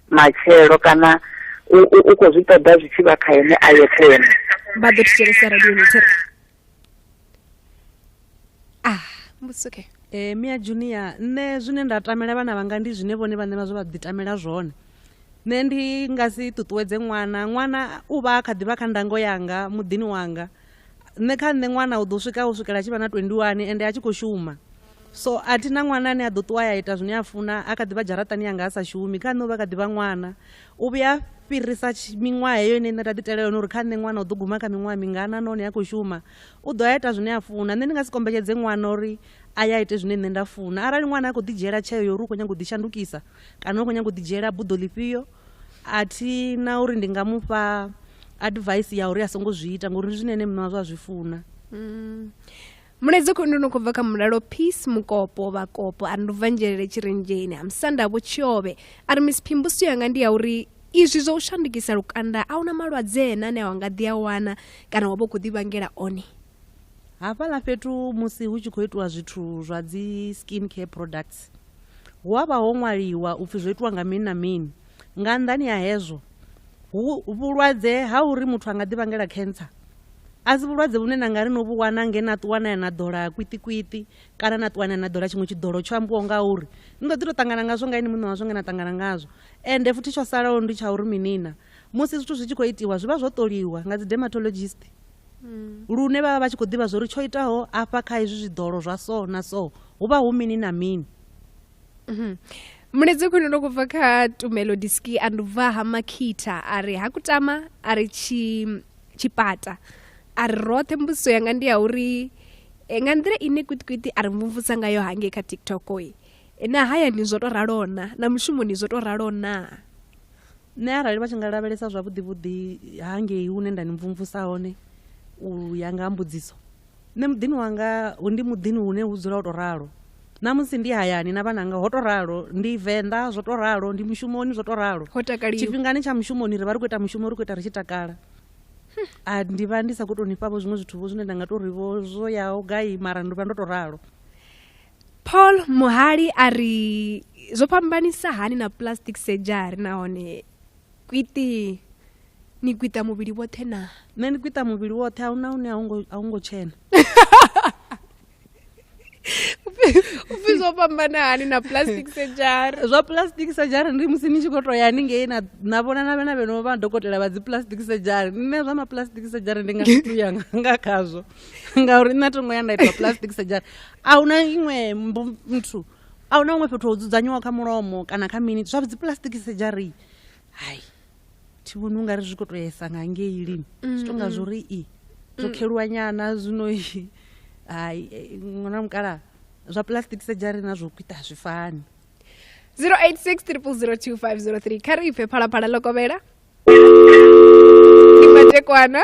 matshelo kana u khou zwi ṱoḓa zwi tshi vha kha ene a yeṱhe ene vha ḓo thetshelesa radio ni thera ah mbusi okay eh mia junior nṋe zwine nda tamela vhana vhanga ndi zwine vhone vhaṋe vha zwo vha ḓi tamela zwone nṋe ndi nga si ṱuṱuwedze ṅwana ṅwana u vha a kha ḓivha kha ndango yanga muḓini wanga nṋe kha nṋe ṅwana u ḓo swika u swikela tshi vha na 21 ende a tshi khou shuma so a thi na ṅwana ane a ḓo ṱuwa ya ita zwine a funa a kha ḓivha dzharaṱani yanga a sa shumi kha nṋe u vha kha ḓivha ṅwana U vhuya a fhirisa miṅwaha heyo ine nṋe nda ḓi itela yone uri kha nṋe ṅwana u ḓo guma kha miṅwaha mingana nahone a khou shuma u ḓo a ita zwine a funa nṋe ndi nga si kombetshedze ṅwana uri a ya ite zwine nṋe nda funa arali ṅwana a khou ḓi dzhiela tsheo yo uri u khou nyanga u ḓi shandukisa kana u khou nyanga u ḓi dzhiela buḓo ḽifhio a thi na uri ndi nga mu fha advice ya uri a songo zwi ita ngori ndi zwine ene muṋe wazwo a zwi funa mm. mulaedza khou ndono khou bva kha mulalo peace mukopo vhakopo a ri ndo bva nzhelele tshirenzheni ha musanda vho tshiobe a ri miss phimbuso yanga ndi ya uri izwi zwa u shandukisa lukanda a huna malwadze ena ane a wa nga ḓi a wana kana wa vha u khou ḓivhangela one hafhaḽa fhethu musi hu tshi khou itiwa zwithu zwa dzi skin care products hu a vha ho ṅwaliwa upfhi zwo itiwa nga mini na mini Nga nnḓani ha hezwo, hu vhulwadze ha uri muthu a nga ḓivhangela cancer a si vhulwadze vhune na nga ri no vhu wana nge na ṱuwa na ya na ḓola kwiṱikwiṱi kana na ṱuwa na ya na ḓola tshiṅwe tshiḓolo tsho ambiwaho nga uri ni ḓo ḓi tou ṱangana ngazwo nga ini muṋe wazwo nge na ṱangana ngazwo ende futhi tsho salaho ndi tsha uri minina musi zwithu zwi tshi khou itiwa zwi vha zwo ṱoliwa nga dzi dermatologist mm. lune vha vha vha tshi khou ḓivha zwa uri tsho itaho afha kha hezwi zwiḓolo zwa so na so hu vha hu mini na mini mhm. mulezi khwine ndo kubva kha tumelo diski a ndubva ha makhitha a ri ha kutama a ri tshipata a ri roṱhe mbudziso yanga ndi ya uri eh, nga nḓila ine kwitikwiti a ri mvumvusa ngayo hangei kha tiktok i eh, na hayani zwo to ralo na na mushumoni zwo to ralo na nṋe arali vha tshi nga lavhelesa zwavhuḓivhuḓi hangei hune nda ni mvumvusa hone u ya nga ha mbudziso Nṋe muḓini wanga hu ndi muḓini hune hu dzula ho to ralo na musi ndi hayani na vhananga ho to ralo ndi venḓa zwo to ralo ndi mushumoni zwo to ralo tshifhingani tsha mushumoni ri vha ri khou ita mushumo ri khou ita ri tshi takala a ndi vha ndi sa khou tou ni fhavho zwiṅwe zwithu vho zwine nda nga tou ri vho zwo yaho gai mara ndi vha ndo to ralo paul muhali a ri zwo fhambanisa hani na plastic surgery nahone kwiti ni kwita muvhili woṱhe na nṋe ndi kwita muvhili woṱhe ahuna hune a hu ngo tshena upfhi zwo fhambana hani na plastic surgery zwa plastic surgery ndi musi ni tshi khou to ya haningei na vhona na vhena vheno vha dokotela vha dzi plastic surgery nṋe zwa ma plastic surgery ndi nga situ ya nga khazwo ngauri nṋe a tongo ya nda ita plastic surgery a huna iṅwe muthu A hu na huṅwe fhethu ho dzudzanyiwaho kha mulomo kana kha mini zwa dzipulasitiki sedzhari hai thi vhoni u nga ri zwi khou tou yesa nga ngei lini zwi tou nga zwo ri i zwo kheluwa nyana zwino i hai eh, ṅwana mukala zwa pulasitiki sedzhari na zwo kwita zwi fani 0863002503 kha ri ipfe phalaphala ḽo kovhela ni matekwana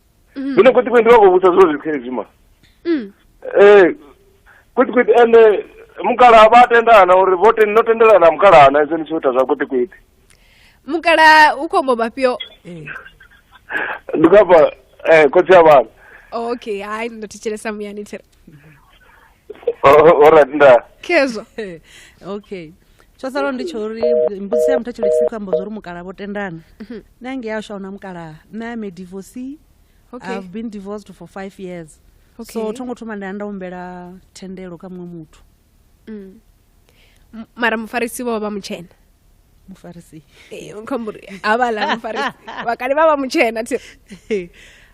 mm. zwino kweti kweti ndi vha khou vhusa zwo zwithu hezwi ma mm. eh kweti kweti ende mukala vha tendana uri vho ten no tendelana mukala ana izwo ni tshi ita zwa kweti kweti mukala u khombo mafhio eh. ndi khapa eh khotsi ya vhana okay hayi ndo thetshelesa muyani thira oh, oh, alright nda khezwa okay tsho salaho ndi tsho uri mbudziso ya muthetsheleki si khou amba zwa uri mukalaha vho tendana mhm. nṋe ange ya sha una mukalaha nṋe am a divorcee okay. i've been divorced for five years okay. so tho ngo thoma nda ya nda humbela thendelo kha muṅwe muthu mm. mara mufarisi vho vha mutshena mufarisi eh, khombori havhala mufarisi vakale vha vha mutshena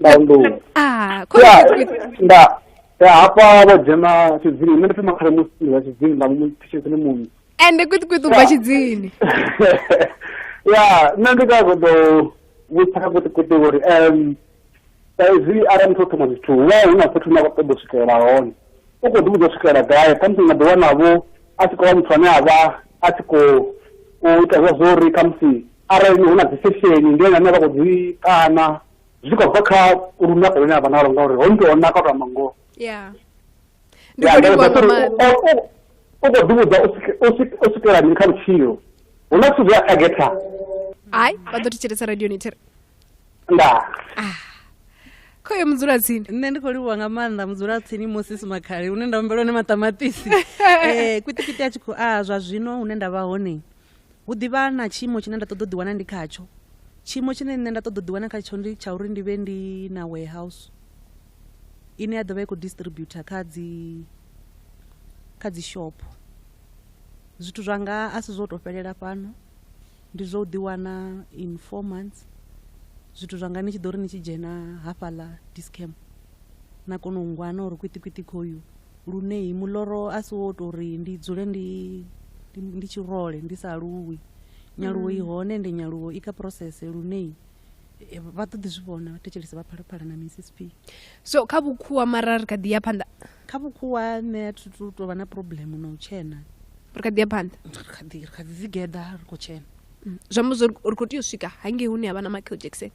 nda unḓuwa ah ya nda ya hafha vho dzhena tshidzini nṋe ndi thoma khare musi ndi wa tshidzini nda mu thishedzini muṋe ende kuṱi kuṱi ubva tshidzini ya nṋe ndi ka ṱoḓo vhutsha kha kuṱikuṱi uri um saizwi arali muthu o thoma zwithu hu vha hu na fhethu na ṱoḓo swikelela hone u khou ḓi vhudza u swikelela gai khamusi nga ḓi wanavho a tshi khou vha muthu ane a vha a tshi khou u ita zwa zwo uri khamusi arali hu na dzi sesheni ndi ene ane vha khou dzi kana zwi tshi khou bva kha lunako lune a vha nalo ngauri ho nto naka u tou amba ngoho ya ndi Ya, khou livhuwa ngauri nga maanḓa u- u- u khou ḓivhudza u swike- u swike- u swikela mini kha vhutshilo hu na zwithu zwi a tagetha hayi vha ḓo thetshelesa radio nithere ndaa khoyo mudzulatsini nṋe ndi khou livhuwa nga maanḓa mudzulatsini moses makhale hune nda humbela hone maṱamaṱisi um kwitikiti a tshi khou a zwa zwino hune nda vha hone Hu ḓi vha na tshiimo tshine nda ṱoḓa u ḓiwana ndi khatsho. Tshiimo tshine nṋe nda ṱoḓa u ḓiwana khatsho ndi tsha uri ndi vhe ndi na warehouse ine ya ḓo vha i khou distributor kha dzi kha dzi shopho. Zwithu zwanga a si zwo tou fhelela fhano, ndi zwa u ḓiwana in four months zwithu zwanga ni tshi ḓo ri ni tshi dzhena hafhaḽa Dis-Chem na kona u ngwana uri kwiṱikwiṱi khoyu. lune muloro a si wo tou ri ndi dzule ndi ndi tshirole ndi sa aluwi nyaluwo i mm. hone ende nyaluwo i kha process lune eh, vha ḓo ḓi zwi vhona vhathetshelesi vha phalaphala na missp so kha vhukhuwa mara ri kha ḓi ya phanḓa kha vhukhuwa nṋe a thu tou vha na problem na u tshena ri kha ḓi ya phanḓa ri kha ḓi ri kha ḓi ḓigeḓa ri khou tshena mm. zwi amba zwo ri khou tea u swika hangei hune ha vha na michael jackson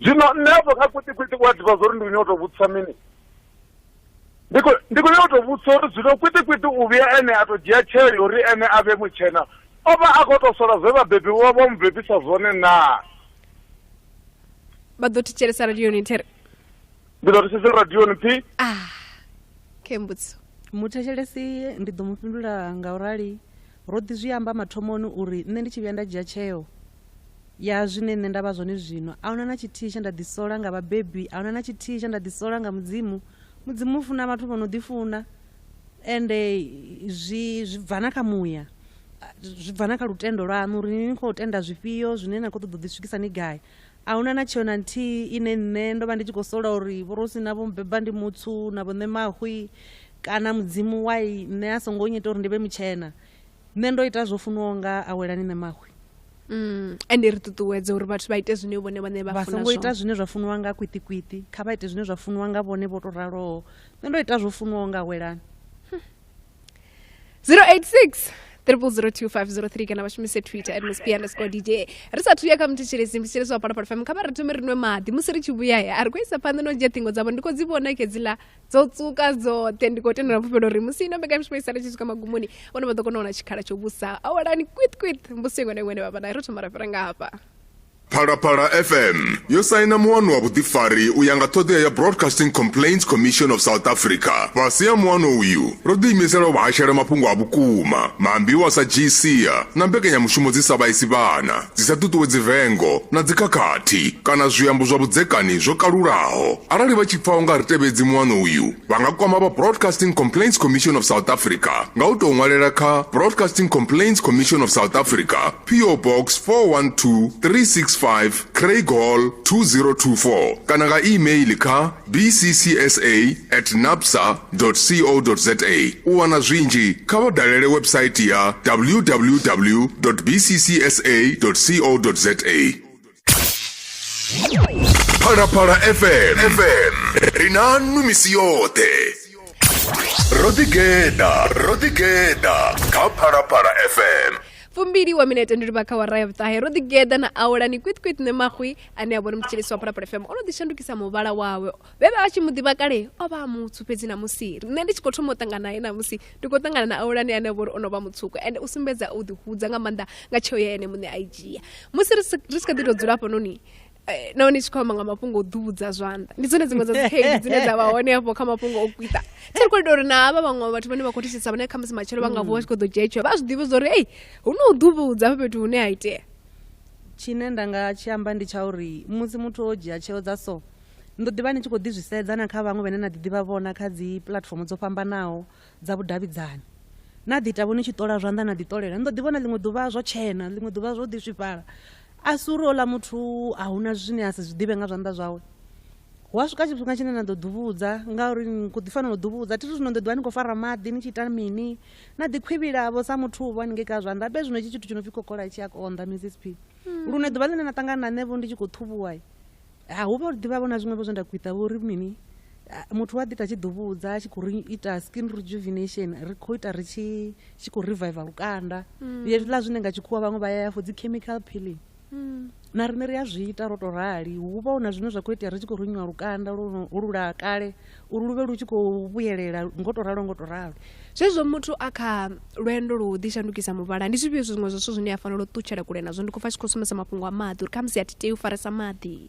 zwino nṋe afho kha kwitikwiṱi u a ḓivha zwa uri ndi khou nyanga u tou vhudzisa mini ndi khou nyanga u tou vhudzisa uri zwino kwitikwiṱi u vhuya ene a tou dzhia tsheo ya uri ene a vhe mutshena o vha a khou tou sola zwe vhabebi vha vha mu bebisa zwone naa vha ḓo thetshelesa radioni there ndi ḓo thetshelesa radioni phi ah khe mbudziso muthetshelesi ndi ḓo mu fhindula nga u rali ro ḓi zwi amba mathomoni uri nṋe ndi tshi vhuya nda dzhia tsheo ya zwine nṋe nda vha zwone zwino. A hu na na tshithihi tshe nda ḓisola nga vhabebi, a hu na na tshithihi tshe nda ḓisola nga Mudzimu. Mudzimu u funa vhathu vho no ḓifuna, ende zwi zwi bva na kha muya, zwi bva na kha lutendo lwaṋu uri ni khou tenda zwifhio zwine na khou ṱoḓa u ḓi swikisa ni gai. A hu na na tsheo na nthihi ine nṋe ndo vha ndi tshi khou sola uri vhorosi na vho mbeba ndi mutsu na vho nṋe mahwi kana Mudzimu why nṋe a songo nyita uri ndi vhe mutshena. nṋe ndo ita zwo funiwaho nga awelani nṋe mahwe Mm, ende ri ṱuṱuwedze uri vhathu vha ite zwine vhone vhane vha vha funa songo ita zwone zwine zwa funiwa nga kwiṱikwiṱi kha vha ite zwine zwa funiwa nga vhone vho to raloho nṋe ndo ita zwo funiwaho nga awelani 086 002503 kana vha shumise twitter at mosp underscore dj ri sa thuya kha muthetshelesi muthetshelesi wa palapala fm kha vha ri thome ri nwe maḓi musi ri tshi vhuya he a ri khou isa phanḓa no dzhia ṱhingo dzavho ndi khou dzi vhona ke dziḽa dzo tsuka dzoṱhe ndi khou tendela fhufhelo uri musi ino mbekanyamushumo i sala tshi swika magumoni vhone vha ḓo kona u wana tshikhala tsho vhusa awalani kwit kwit mbusi iṅwe na iṅwe ne vha vha nayo ro thoma ra fhira nga hafha Phalaphala FM yo saina muwano wa vhuḓifari u ya nga ṱhoḓea ya Broadcasting Complaints Commission of South Africa. Fhasi ha muwano uyu, ro ḓiimisela u vhahashela mafhungo a vhukuma, maambiwa sa GCA na mbekanyamushumo dzi sa vhaisi vhana. dzi sa ṱuṱuwedzi vengo na dzikhakhathi kana zwiambo zwa vhudzekani zwo kalulaho arali vha tshi pfa u nga ri tevhedzi muano uyu vha nga kwama vha broadcasting complaints commission of south africa nga u tou ṅwalela kha broadcasting complaints commission of south africa po box 412365 craig hall 2024 kana nga email kha bccsa at napsa co za u wana zwinzhi kha vha dalele website ya www bccsa co za phalaphala fm fm ri na nnu misi yoṱhe ro ḓigeḓa ro ḓigeḓa kha phalaphala fm fumbili wa minete ndi livha kha wara ya vhuṱahe ro ḓigeḓa na awelani kwitkwit ne maxwi ane a vhona mutshilisi wa phalaphala fm o no ḓishandukisa muvhala wawe vhe vha vha tshi mu ḓivha kale o vha a mutswu fhedzi namusi nṋe ndi tshi khou thoma u ṱangana naye namusi ndi khou ṱangana na aulani ane a vha uri o no vha mutswuku ende u sumbedza u ḓihudza nga maanḓa nga tsheo ya ene muṋe a i dzhia musi ri si ri si kha ḓi tou dzula hafhanoni eh, nahone i tshi khou amba nga mafhungo o ḓuvhudza zwanḓa ndi dzone dziṅwe dza dzikhaedu dzine dza vha hone hafho kha mafhungo o kwita tsha ri khou ita uri na havha vhaṅwe vhathu vhane vha khou thitshisa vhane khamusi matshelo vha nga vuwa tshi khou ḓo dzhia tsheo vha zwi ḓivhe zwa uri ei hu no u ḓuvhudza hafha fhethu hune ha itea Tshine nda nga tshi amba ndi tsha uri musi muthu o dzhia tsheo dza so, ni ḓo ḓi vha ni tshi khou ḓi zwi sedza na kha vhaṅwe vhane na ḓiḓivha vhona kha dzi puḽatifomo dzo fhambanaho dza vhudavhidzani. Na ḓi ita vho ni tshi ṱola zwanḓa na ḓiṱolela. Ni ḓo ḓi vhona ḽiṅwe ḓuvha zwo tshena, ḽiṅwe ḓuvha zwo ḓi swifhala. A si uri houḽa muthu a hu na zwine a si zwi ḓivhe nga zwanḓa zwawe. Hu a swika tshifhinga tshine na ḓo ḓuvhudza ngauri ni khou ḓi fanela u ḓuvhudza. Thi ri zwino ni ḓo ḓi vha ni khou fara maḓi ni tshi ita mini, na ḓikhwivhilavho sa muthu uvho haningei kha zwanḓa be zwino itshi tshithu tshi no pfi kokola tshi a konḓa mrs p hmm. lune ḓuvha ḽine na ṱangana na nṋevho ndi tshi khou ṱhuvhuwa ha hu vha ḓivhavho na zwiṅwevho zwe nda khwiṱa vho ri mini muthu wa ḓi ta tshi ḓuvhudza a tshi khou ri ita skin rejuvenation ri khou ita ri tshi khou reviva lukanda hmm. hezwiḽa zwine nga tshikhuwa vhaṅwe vha ya ya for dzi chemical peeling hmm. na riṋe ri a zwi ita ro to rali hu vha hu na zwine zwa khou itea ri tshi khou runyiwa lukanda lula kale uri lu vhe lu tshi khou vhuyelela ngo to ralo ngo to ralo zwezwo muthu a kha lwendo lu ḓi shandukisa muvhala ndi zwifhio zwiṅwe zwa zwithu zwine a fanela u ṱutshela kule nazwo ndi khou pfa tshi khou sumbedza mafhungo a maḓi uri khamusi a thi tei u faresa maḓi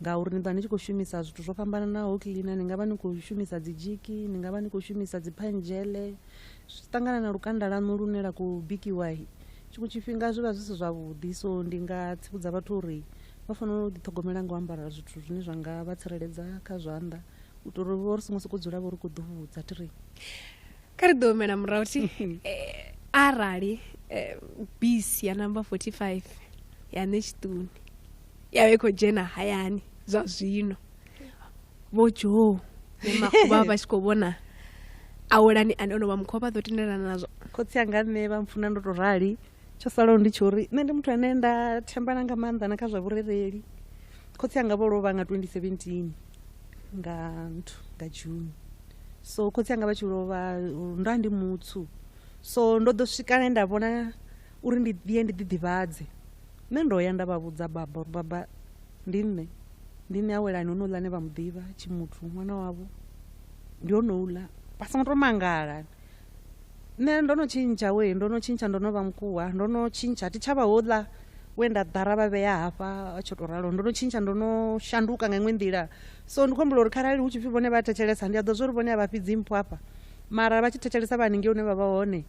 ngauri ni ḓovha ni tshi khou shumisa zwithu zwo fhambananaho cleaner ni nga vha ni khou shumisa dzi dzhiki ni nga vha ni khou shumisa dzi phanzhele zwi ṱangana na lukanda lanu lune la khou bikiwa tshiṅwe tshifhinga zwi vha zwi si zwavhuḓi so ndi nga tsivhudza vhathu uri vha fanela u ḓiṱhogomela nga u ambara zwithu zwine zwa nga vha tsireledza kha zwanḓa u itela uri vho ri songo sokou dzula vho ri khou ḓuvhudza thi ri kha ri ḓo humela murahu thi eh, arali eh, bisi ya namba 45 ya ṋe tshiṱuni ya vha i khou dzhena hayani zwa zwino vho joo makhuba vha tshi khou vhona awelani ane ono vha mukhuwa vha ḓo tendelana nazwo khotsi anga nṋe vha mpfuna ndo to rali tsho salaho ndi tsho uri nṋe ndi muthu ane nda thembana nga maanḓa na kha zwa vhurereli khotsi anga vho lovha nga 2017 nga nthu nga june so khotsi anga vha tshi lovha ndo ndi mutsu so ndo ḓo swika nda vhona uri ndi ye ndi ḓiḓivhadze. Nṋe ndo ya nda vha vhudza, Baba, Baba, ndi nṋe. Ndi nṋe Awelani, honouḽa ane vha mu ḓivha, Tshimuthu, ṅwana wavho. Ndi honouḽa. Vha songo tou mangala. Nṋe ndo no tshintsha, wee, ndo no tshintsha, ndo no vha mukuwa, ndo no tshintsha. A thi tsha vha houḽa we nda ḓara vha vhea hafha, a tsho tou ralo. Ndo no tshintsha, ndo no shanduka nga iṅwe nḓila. So ndi khou humbula uri kharali hu tshi pfi vhone vha thetshelesa, ndi a ḓivha zwa uri vhone a vha fhi dzimpho afha, mara vha tshi thetshelesa vha haningei hune vha vha hone,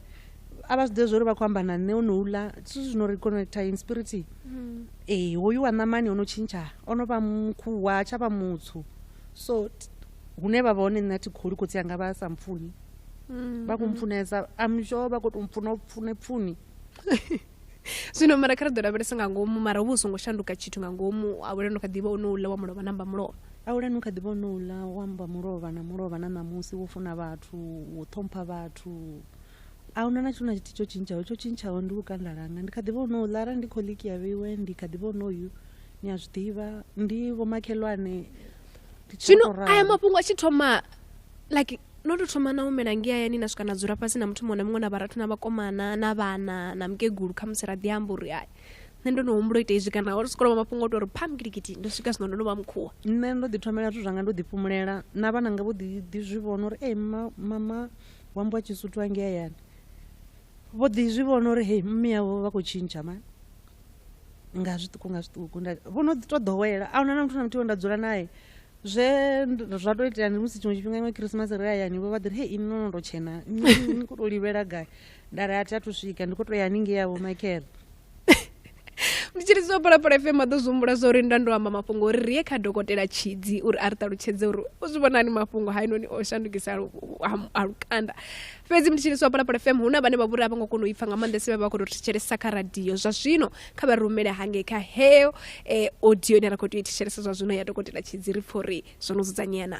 a vha zwiḓivhe zwori vha khou amba na nṋe o no uḽa zwithu zwino ri connecta in spirit mm. ee hoyu wa ṋamani o no tshintsha o no vha mukhuwa tsha vha mutsu so hune vha vha hone nṋe a thi kholi khotsi anga vha sa mpfuni mm, vha khou mm. mpfunesa amsho vha khou tou mpfuna pfune pfuni zwino mara kha ri ḓo lavhelesa nga ngomu mara uvha u songo shanduka tshithu nga ngomu awulani u kha ḓivha ono uḽa wa mulovha namba mulovha awulani u kha ḓivha ono uḽa wa mba mulovha na mulovha na ṋamusi wo funa vhathu wo ṱhompha vhathu a huna na tshithu na tshithihi tsho tshintshaho tsho tshintshaho ndi lukanda langa ndi kha ḓi vha u no ḽa arali ndi khoḽiki ya vheiwe ndi kha ḓi vha u no yu ni a zwi ḓivha ndi vhomakhelwane zwino aya mafhungo a tshi thoma like no tou thoma na humela nge hayani na swika na dzula fhasi na muthu muṅwe na muṅwe na vharathu na vhakomana na vhana na mukegulu kha musi ra ḓi amba uri ai nṋe ndo no humbula ita izwi kana uri sikoloma mafhungo o to uri pam gidigidi ndo swika zwino ndo no vha mukhuwa nṋe ndo ḓi thomela zwithu zwanga ndo ḓi fhumulela na vhananga vho ḓi ḓi zwi vhona uri ee mama wa mbwa tshisuthu angei hayani vho ḓi zwi vhona uri hei mme yavho vha khou tshintsha mani nga zwiṱuku nga zwiṱuku vho no ḓi to ḓowela a huna na muthu na muthihi we nda dzula naye zwe zwa to itea ndi musi tshiṅwe tshifhinga iṅwe khirisimasi ri hayani vho vha ḓiri hei ini nono to tshena ni khou to livhela gai nda ri a thi a thu swika ndi khou to ya haningei yavho makhera ndi tshi lidza phalaphala fm a ḓo zwi humbula zwa uri nda ndo amba mafhungo uri ri ye kha dokotela tshidzi uri a ri ṱalutshedze uri u zwi vhonani mafhungo hainoni o shandukisa lu- u- ha- ha lukanda fhedzi ndi tshi lidza phalaphala fm hu na vhane vha vhori a vho ngo kona u ipfa nga maanḓesa vha vha khou tou thetshelesa kha radio zwa zwino kha vha rumele hangei kha heyo eh, audio ine ra khou tea u i thetshelesa zwa zwino ya dokotela tshidzi ri pfha uri zwo no dzudzanyea na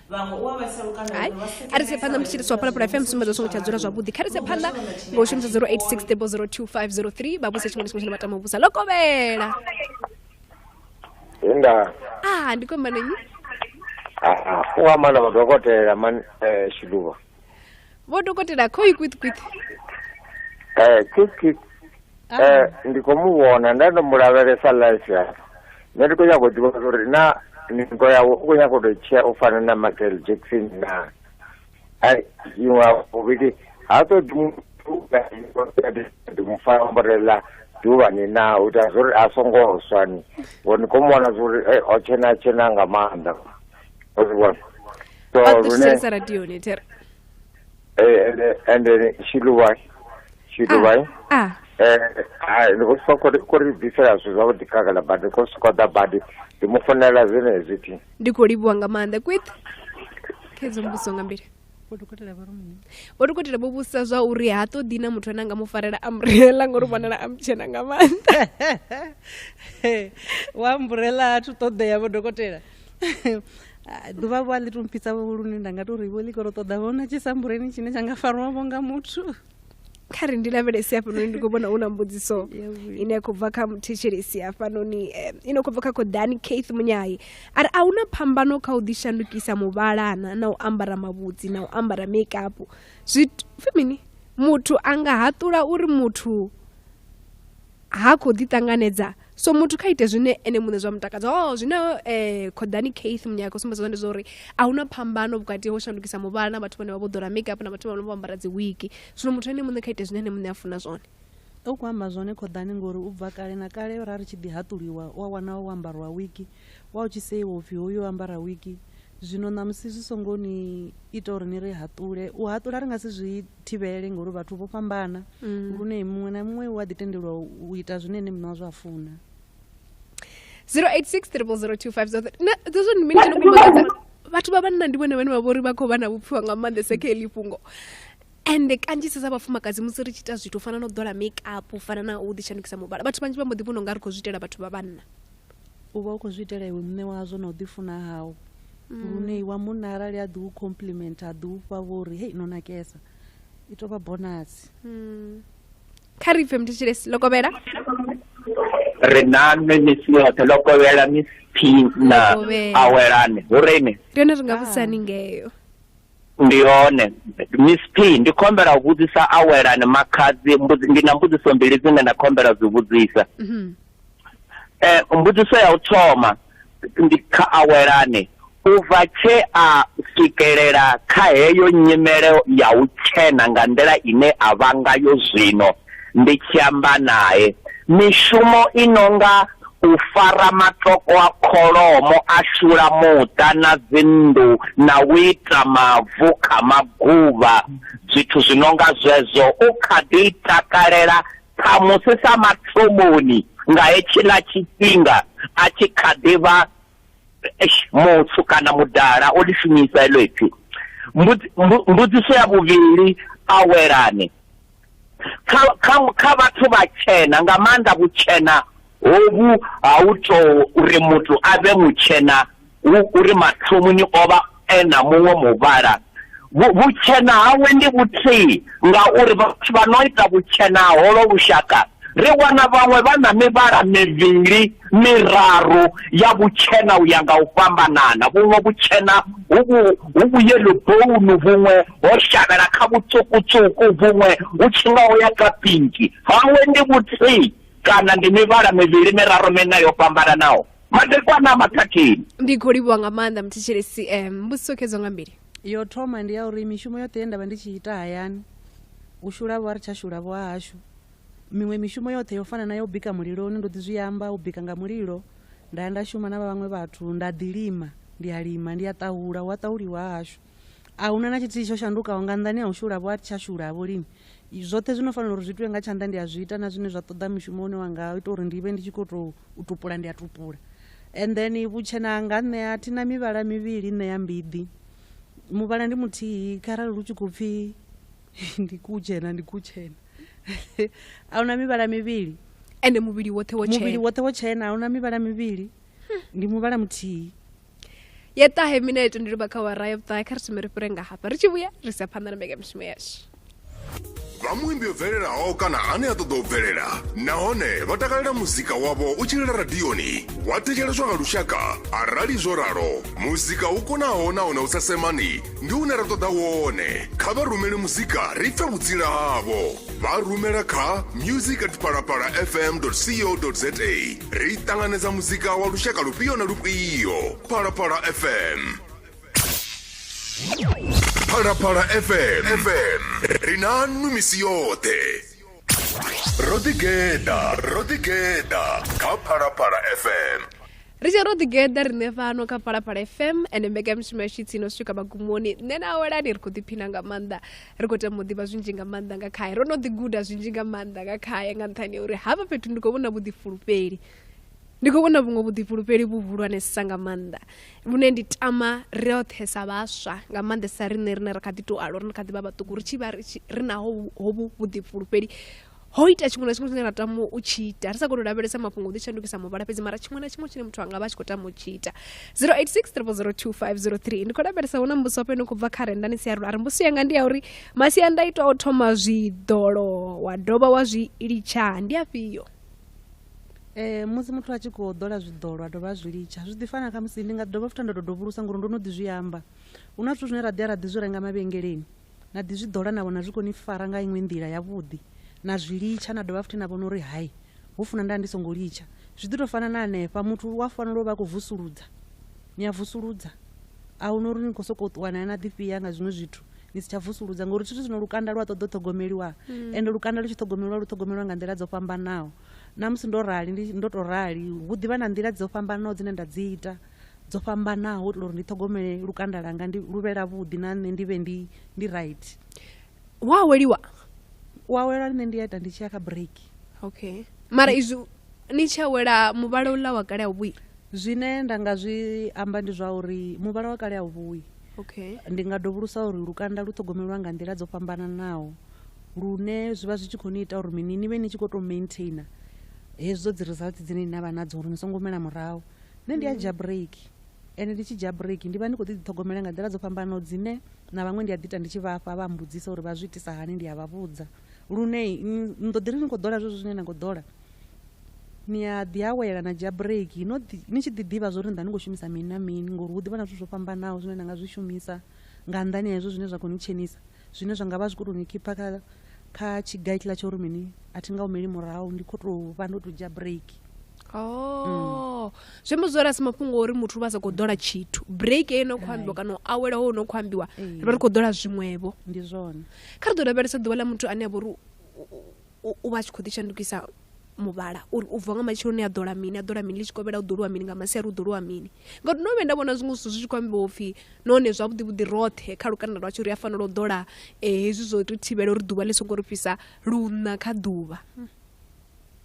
hai a ri se phanḓa mutshitshitisi wa phalaphala fm sumbedza songo tsha dzula zwavhuḓi kha ri se phanḓa ngo shumisa 086 table 02503 vha vhuse tshiṅwe na tshiṅwe tshine vha tama u vhusa ḽo kovhela inda a ndi kombanenyi u amba na madokotela man eh, shiduva vho dokotela kho i kwith kwith eh kwith kwith ah. eh ndi kho mu vhona nda ndo mu lavhelesa life ya nṋe ndi khou nyanga u ḓivha uri na ningo yawe u khou nyanga u tou tshea u fana na michael jackson na ai iṅwe vhuvhili ha ṱoḓi muthu ḓi mu fana ambarela duvhani na u ita zwo ri a songo swa ni ngori ni khou mu vhona zwo ri o tshena tshena nga maanḓa Osborne. So Ba Renee, thusesa radio ni tere. eh, and eh, and then she do why? She do why? Ah, Eh, ah, ndi khou sokou ri- khou ri bvisela zwithu zwavhuḓi khagala badi khou sokou ḓa badi ndi mu founela zwenezwi thi ndi khou livhuwa nga maanḓa kwith khedzo mbuso nga mbili vho dokotela vha ri mini vho dokotela vho vhusa zwa uri ha ṱoḓi na muthu ane a nga mu farela a murela ngori vhonala a mutshena nga maanḓa wa mburela a thu ṱoḓea vho dokotela Ah, ḓuvha vho a ḽi tompitsa vho lune nda nga to ri vho ḽi koro ṱoḓa vhona tshisambureni tshine tsha nga farwavho nga muthu kha ri ndi lavhelesi hafhanoni ndi khou vhona hu na mbudziso ine ya khou bva kha muthetshelesi hafhanoni eh, ine khou bva kha khoḓani kaith munyayi a ri a hu na phambano kha u ḓishandukisa muvhalana na u ambara mavhudzi na u ambara makeup zwi mini muthu a nga haṱula uri muthu ha khou ḓiṱanganedza so muthu kha ite zwine ene muṋe zwa mutakadza o oh, zwine um eh, khoḓani keith munyaka u sumbedza zwa ndi zwa uri a hu na phambano vhukati ho shandukisa muvhala na vhathu vhane vha vho ḓola makeup na vhathu vhane vho ambara dzi wiki zwino muthu ene muṋe kha ite zwine ene muṋe a funa zwone u khou amba zwone khoḓani ngori u bva kale na kale ra ri tshi ḓi haṱuliwa u a wana o ambariwa wiki Wa u tshi seiwa u pfi hoyu o ambara wigi, zwino ṋamusi zwi songo ni ita uri ni ri haṱule. U haṱula ri nga si zwi thivhele ngauri vhathu vho fhambana lune muṅwe na muṅwe u a ḓi tendelwa u ita zwine ene muṋe wazwo a funa. 086 00025 na dzezwo ndi mini tshino kumbadza vhathu vha vhanna ndi vhone vhane vha vhori vha khou vha na vhupfiwa nga maanḓesa kha heḽi fhungo ende kanzhisa sa vhafumakadzi musi ri tshi ita zwithu u fana na u ḓola makeup u fana na u ḓishandukisa muvhala vhathu vhanzhi vha mbo ḓi vhona unga ri khou zwi itela vhathu vha vhanna U vha u khou zwi itela iwe muṋe wazwo na u ḓifuna hau lune wa munna arali a ḓi u compliment a ḓi u fha vho uri hei no nakesa i tou vha bonasi kha ri pfe mthetshelesi lokovhela ri na nṋe misi yoṱhe lokovhela miss p na Lokovhela. awelani hu rine ndi hone ri nga vhudzisani ngeyo ndi yone miss p ndi khou humbela u vhudzisa awelani makhadzi mbudzi- ndi na mbudziso mbili dzine nda khou humbela u dzi vhudzisa Mhm. eh mbudziso ya u thoma ndi kha awelane u bva tshe a swikelela kha heyo nyimele ya u tshena nga nḓila ine a vha ngayo zwino ndi tshi amba naye mishumo i nonga u fara matoko a kholomo a shula muṱa na dzinnḓu na u ita mavu kha maguvha zwithu zwi nonga zwezwo u kha ḓi takalela Khamusi sa mathomoni nga hetshiḽa tshifhinga a tshi kha ḓi vha muswu kana mudala, o ḽi shumisa heḽo ipfi. Mbudziso ya vhuvhili, Awelani kha vhathu vhatshena, nga maanḓa vhutshena Hovhu ha u tou uri muthu a vhe mutshena hu uri mathomoni o vha e na muṅwe muvhala. Vhutshena hawe ndi vhuthihi ngauri vhathu vha no ita vhutshena ha holo lushaka ri wana vhaṅwe vha na mivhala mivhili, miraru ya vhutshena u ya nga u fhambanana. Vhuṅwe vhutshena hu vhu vhu-yellow bone, vhuṅwe ho shavhela kha vhutswuku-tswuku, vhuṅwe hu tshi nga ho ya kha pinki. Hawe ndi vhuthihi. Kana ndi mivhala mivhili miraru miṋa yo fhambananaho, madekwana a maṱhathini. Ndi khou livhuwa nga maanḓa Mthetshelesi CM. Mbudziso khedzo nga mbili. Yo thoma ndi ya uri mishumo yoṱhe ye nda vha ndi tshi ita hayani, u shulavho a ri tsha shulavho ha hashu. Miṅwe mishumo yoṱhe yo fana na ya u bika muliloni ndo ḓi zwi amba, u bika nga mulilo, nda ya nda shuma na vha vhaṅwe vhathu, nda ḓi lima, ndi a lima, ndi a ṱahula, hu a ṱahuliwa ha hashu. A hu na na tshithihi tsho shandukaho nga nnḓani ha u shulavho, a thi tsha shulavho lini. Zwoṱhe zwi no fanela uri zwi itiwe nga tshanḓa ndi a zwi ita, na zwine zwa ṱoḓa mushumo une wa nga ita uri ndi vhe ndi tshi khou tou u tupula ndi a tupula. And then vhutshena hanga nṋe a thi na mivhala mivhili nṋe ya mbiḓi, muvhala ndi muthihi kharali lu tshi khou pfhi ndi kutshena ndi kutshena a hu na mivhala mivhili. Ende muvhili woṱhe wo tshena. Muvhili woṱhe wo tshena a hu na mivhala mivhili, ndi muvhala muthihi. ya ṱahe mineto ndi luba kha wara ya vhuṱahe kha ri thome ri fhire nga hafha ri tshi vhuya ri sa phanḓa na mbekamishumo yashu vha muimbi o bvelelaho kana ane a ṱoḓa u bvelela nahone vha takalela muzika wavho u tshilela radioni wa thetsheleswa nga lushaka arali zwo ralo muzika u konaho nahone u sa semani ndi une ra ṱoḓa wone kha vha rumele muzika ri pfe vhutsila havho vha rumela kha music at palapala fm co za ri ṱanganedza muzika wa lushaka lufhio na lufhio phalaphala fm phalaphala fm fm ri na nnu misi yoṱhe ro ḓigeḓa ro ḓigeḓa kha phalaphala fm ri tshi ro ḓigeḓa riṋe fhano kha phalaphala fm ende mbekanyamushumo yashu itsi no swika magumoni nṋe na awelani ri khou ḓiphina nga maanḓa ri khou tama u ḓivha zwinzhi nga maanḓa nga khae ro no ḓi guda zwinzhi nga maanḓa nga khae nga nṱhani ya uri hafha fhethu ndi khou vhona vhuḓifulufheli ndi khou vhona vhuṅwe vhuḓifulufheli vhuhulwanesa nga maanḓa vhune ndi tama roṱhe sa vhaswa nga maanḓesa riṋe rine ra kha ḓi tou alwa ri kha ḓi vha vhaṱuku ri tshi vha ri naho hovhu vhuḓifulufheli ho ita tshiṅwe na tshiṅwe tshine ra tama u tshi ita ri sa koni u lavhelesa mafhungo u ḓi shandukisa muvhala fhedzi mara tshiṅwe na tshiṅwe tshine muthu anga vha tshi khou tama u tshi ita 0863002503 ndi khou lavhelesa hu na mbuso wapo ino khou bva kha renda ni si yarulo a ri mbuso yanga ndi ya uri masiandaitwa o thoma zwiḓolo wa dovha wa zwi litsha ndi afhio Eh, musi muthu a tshi khou ḓola zwiḓolo a dovha a zwi litsha zwi ḓi fana khamusi ndi nga dovha futhi nda tou dovhulusa ngori ndo no ḓi zwi amba hu na zwithu zwine ra ḓi ya ra ḓi zwi renga mavhengeleni Na ḓi zwi ḓola na vhona zwi khou ni fara nga iṅwe nḓila yavhuḓi, na zwi litsha na dovha futhi na vhona uri hai, ho funa nda vha ndi songo litsha. Zwi ḓi tou fana na hanefha, muthu u a fanela u vha a khou vusuludza. Ni a vusuludza. A hu na uri ni khou sokou ṱuwa na ya na ḓifhia nga zwiṅwe zwithu ni si tsha vusuludza ngauri zwithu zwino lukanda lu a ṱoḓa u ṱhogomeliwa ende lukanda lu tshi ṱhogomeliwa lu ṱhogomeliwa nga nḓila dzo fhambanaho. Na musi ndo rali ndi ndo tou rali, hu ḓi vha na nḓila dzo fhambanaho dzine nda dzi ita. dzo fhambanaho u itela uri ndi ṱhogomele lukanda langa ndi lu vhe lavhuḓi na nṋe ndi vhe ndi ndi right wa aweliwa u awela nṋe ndi a ita ndi tshi ya kha break okay mara izwi ni tshi awela muvhala uḽa wa kale a u vhuyi zwine nda nga zwi amba ndi zwa uri muvhala wa kale a u vhuyi okay ndi nga dovhulusa uri lukanda lu ṱhogomelwa nga nḓila dzo fhambananaho lune zwi vha zwi tshi khou ni ita uri mini ni vhe ni tshi khou tou maintainer hezwo dzi results dzine ni na vha nadzo uri ni songo humela murahu nṋe ndi a dzhia bureiki ende ndi tshi dzhia bureiki ndi vha ndi khou ḓi ḓiṱhogomela nga nḓila dzo fhambanaho dzine na vhaṅwe ndi a ḓi ita ndi tshi vhafha vha mbudzisa uri vha zwi itisa hani ndi a vha vhudza lune ni ḓo ḓi ri ni khou ḓola zwezwo zwine na khou ḓola ni a ḓi awela na dzhia bureiki no ḓi ni tshi ḓi ḓivha zwa uri ni ḓa ni khou shumisa mini na mini ngori hu ḓi vha na zwithu zwo fhambanaho zwine na nga zwi shumisa nga nnḓani ha hezwo zwine zwa khou ni tshenisa zwine zwa nga vha zwi khou tou ni khipha kha kha tshigaitla tsha uri mini a thi nga humeli murahu ndi khou tou vha ndo tou dzhia break Oh. zwi amba zwori a si mafhungo ori muthu vha sa khou ḓola tshithu break eyo no khou ambiwa kana u awela ho no khou ambiwa ri vha ri khou ḓola zwiṅwevho ndi zwone kha ri ḓo lavhelesa ḓuvha ḽa muthu ane a vha uri u vha a tshi khou ḓi shandukisa muvhala uri u bva nga matsheloni a ḓola mini a ḓola mini ḽi tshi kovhela u ḓoliwa mini nga masiari u ḓoliwa mini ngauri ndo vhuya nda vhona zwiṅwe zwithu zwi tshi khou ambiwa upfhi nahone zwavhuḓi vhuḓi roṱhe kha lukanda lwashu ri a fanela u ḓola eh, hezwi zwo ri thivhela uri ḓuvha ḽi songo ri fhisa luna kha ḓuvha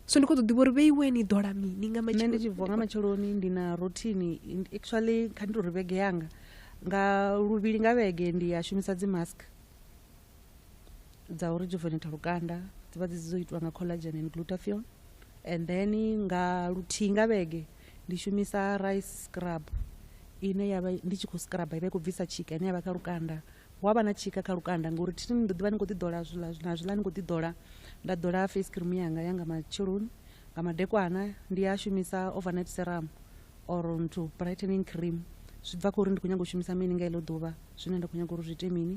so ndi khou ḓo ḓivha uri vhe iwe ni ḓola mini nga nṋe ndi tshi bva nga matsheloni ndi na rothini actually kha ndi tori vhege yanga nga luvhili nga vhege ndi a shumisa dzi mask dza u rejuvenata lukanda dzi vha dzi dzo itiwa nga collagen and glutathione and then nga luthihi nga vhege ndi shumisa rice scrub ine yavha ndi tshi khou scrub i vha i khou bvisa tshika ine yavha kha lukanda hu avha na tshika kha lukanda ngori thithini ndo ḓivha ndi khou ḓi ḓola zwiḽa na zwiḽa ndi khou ḓi ḓola nda ḓola face cream yanga ya nga matsheloni nga madekwana ndi a shumisa overnight serum or nthu brightening cream zwi bva kha uri ndi khou nyanga u shumisa mini nga iḽo ḓuvha zwine nda khou nyanga uri zwi ite mini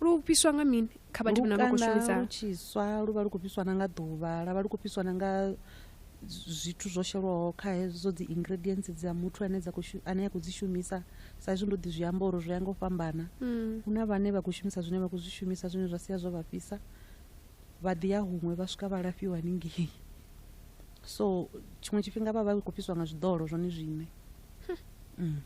lu fhiswa nga mini kha vhathu vhane vha khou shumisa lu tshiswa lu vha lu khou fhiswa na nga ḓuvha la vha lu khou fhiswa na nga zwithu zwo shelwaho kha hezwo dzi ingredients dza muthu ane dza khou ane a khou dzi shumisa sa izwi ndo ḓi zwi amba uri zwi ya nga u fhambana mm. hu na vhane vha khou shumisa zwine vha khou zwi shumisa zwine zwa sia zwo vha fhisa vha ḓi ya huṅwe vha swika vha lafhiwa haningei so tshiṅwe tshifhinga vha vha khou fhiswa nga zwiḓolo zwone zwine hm. mm.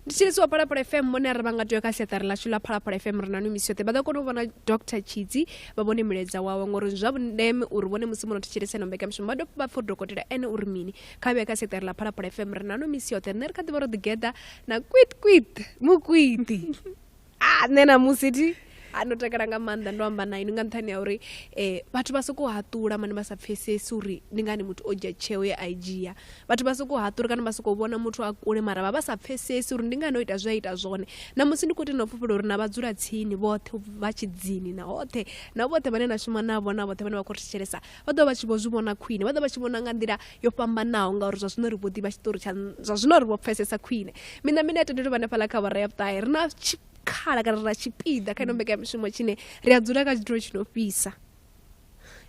ndi tshilisi wa phalaphala fm mone ri vha nga tea kha siaṱari lashu ḽa phalaphala fm ri na nwi misi yoṱhe vha ḓo kona u vhona dr tshidzi vha vhone milaedza wawe ngori zwa vhundeme uri vhone musi muno thetshelesa ino mbekamishumo vha dovha vha pfa dokotela ene uri mini kha vhuya kha siaṱari ḽa phalaphala fm ri na nwi misi yoṱhe nṋe ri kha ḓivha ro ḓigeḓa na kwit kwit mukwiti a nṋe na musi ti a ndo takala nga maanḓa ndo amba na inwi nga nṱhani ya uri um vhathu vha sokou haṱula mane vha sa pfesesi uri ndi ngani muthu o dzhia tsheo ye a i dzhia vhathu vha sokou haṱula kana vha sokou vhona muthu a kule mara vha vha sa pfesesi uri ndi ngani o ita zwe a ita zwone na musi ndi khou tenda u fhufhela uri na vhadzula tsini vhoṱhe vha tshidzini na hoṱhe na vhoṱhe vhane na shuma navho na vhoṱhe vhane vha khou ri thetshelesa vha ḓovha vha tshi vho zwi vhona khwine vha ḓovha vha tshi vhona nga nḓila yo fhambanaho ngauri zwa zwino ri vho ḓivha tshiṱori tsha zwa zwino ri vho pfesesa khwine miṋa miṋa ya tendelwe vhanefhaḽa kha vhara ya vhuṱahe ri na tshikhala kana ri na tshipiḓa kha ino mbekanyamishumo tshine ri a dzula kha tshithulo tshi no fhisa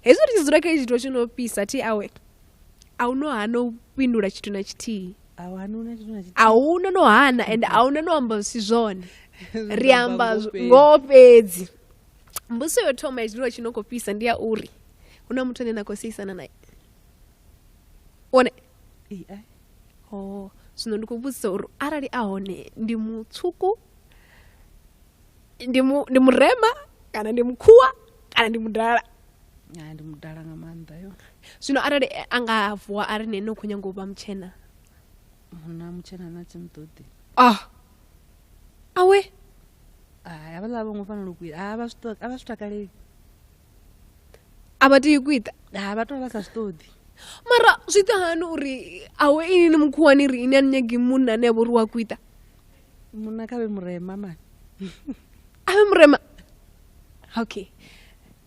hezwi ri tshi dzula kha tshithulo tshi no fhisa thi awe a u no hana u fhindula tshithu na tshithihi a huna no hana ende a huna no amba zwi si zwone ri amba ngoho fhedzi mbudziso yo thoma ya zwiḽiwa tshi no khou fhisa ndi ya uri hu na muthu ane na khou seisana naye one oh zwino ndi khou vhudzisa uri arali a hone ndi mutswuku ndi mu ndi murema kana ndi mukhuwa kana ndi mudala ndi mudala nga maanḓa yo zwino arali a nga vuwa a ri ne no khou nyanga u vha mutshena munna mutshena na tsimutodi ah awe a vha ḽa vho ngo fanela u kwita a vha zwi a vha zwi takaleli a vha tea u kwita a vha to vha sa zwi ṱoḓi mara zwi ita hani uri awe ini ni mukhuwani ri ini a ni nyagi munna ane a vha uri wa kwita munna kha vhe murema mani avhe murema okay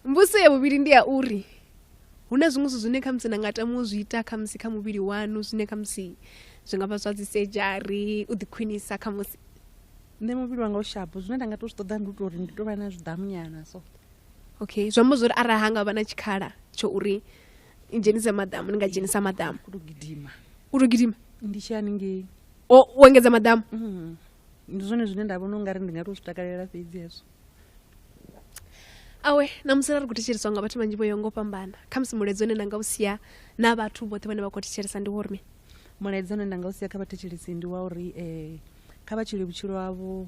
mbudziso ya vhuvhili ndi ya uri hu na zwiṅwe zwithu zwine khamusi na nga tama u zwi ita khamusi kha muvhili wanu zwine khamusi zwi nga vha zwa dzi sejari u ḓikhwinisa khamusi nṋe muvhili wanga u shapo zwine nda nga to zwi ṱoḓa ndi u tori ndi to vha na zwiḓamunyana so okay zwi amba zwori arali ha nga vha na tshikhala tsho uri i dzhenise maḓamu ni nga dzhenisa maḓamu u to gidima u to gidima ndi tshi haningei u engedza maḓamu mm. ndi zwone zwine nda vhona ungari ndi nga to zwi takalela fhedzi hezwo awe namusi ra ri khou thetsheliswa nga vhathu vhanzhi vho yo ngo fhambana khamusi mulaedza une na nga u sia na vhathu vhoṱhe vhane vha khou thetshelisa ndi wo rime mulaedza une nda nga u sia kha vhathetshelisi ndi wa uri um kha vha tshile vhutshilo havho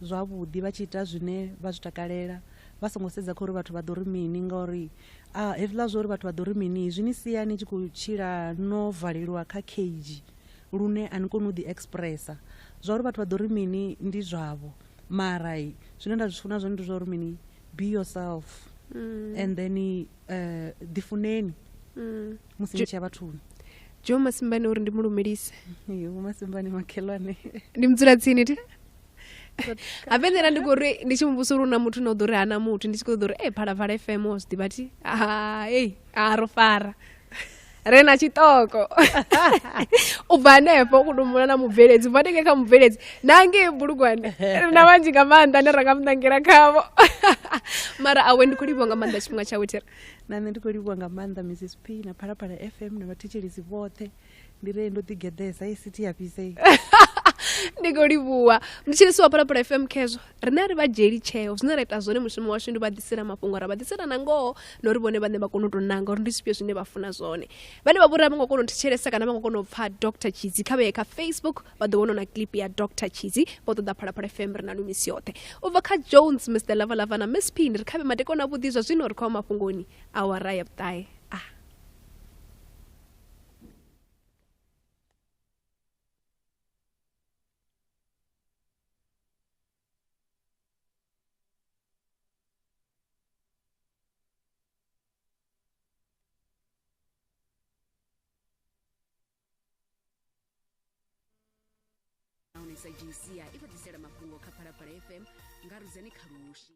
zwavhuḓi vha tshi ita zwine vha zwi takalela vha songo sedza kha uri vhathu vha ḓo ri mini ngauri a hezwiḽa zwa uri vhathu vha ḓo ri mini zwi ni sia ni tshi khou tshila no valelwa kha cage lune a ni koni u ḓi expressa zwa uri vhathu vha ḓo ri mini ndi zwavho mara zwine nda zwi funa zwone ndi zwa uri mini be yourself mm. and then uh, ḓifuneni mm. musi ni tshiya vhathuni jo masimbani uri ndi mu lumelise yo masimbani makhelwane ndi mudzulatsini ti ha fhedzela ndi khou ri ndi tshi muvhusa uri u na muthu na u ḓo ri hana muthu ndi tshi khou ḓo ri e phalaphala fm o zwi ḓivha thi ei a ro fara re na tshiṱoko u bva hanefho u kutumbula na mubveledzi u bva ndenge kha mubveledzi na ngei bulugwane ri na vhanzhi nga maanḓa ne ra nga muṋangela khavho mara awe ndi khou livhiwa nga maanḓa tshifhinga tshawe thira na nṋe ndi khou livhiwa nga maanḓa mrs p na phalaphala fm na vhathetshelesi vhoṱhe ndi re ndo ḓi geḓesa i sithi ya fhisei ndi khou livhuwa mutshilisi wa phalaphala fm khezwo rine ri vha dzheli tsheo zwine ra ita zwone mushumo washu ndi vha ḓisela mafhungo ra vha ḓisela na ngoho na uri vhone vhane vha kone u tou nanga uri ndi zwifhio zwine vha funa zwone vhane vha vhori a vho ngo kona u thetshelesa kana vha ngo kona u pfha dr chidzi kha vheye kha facebook vha ḓo vhona na clip ya dr chidzi vho ṱoḓa phalaphala fm ri na lu misi yoṱhe u bva kha jones mr lavalava na miss pin ri khavhe madekona a vhuḓi zwa zwino ri khou mafhungoni awara ya vhuṱahe nahone sa gca i fhedzisela mafhungo kha phalaphala fm nga rudzani khalushi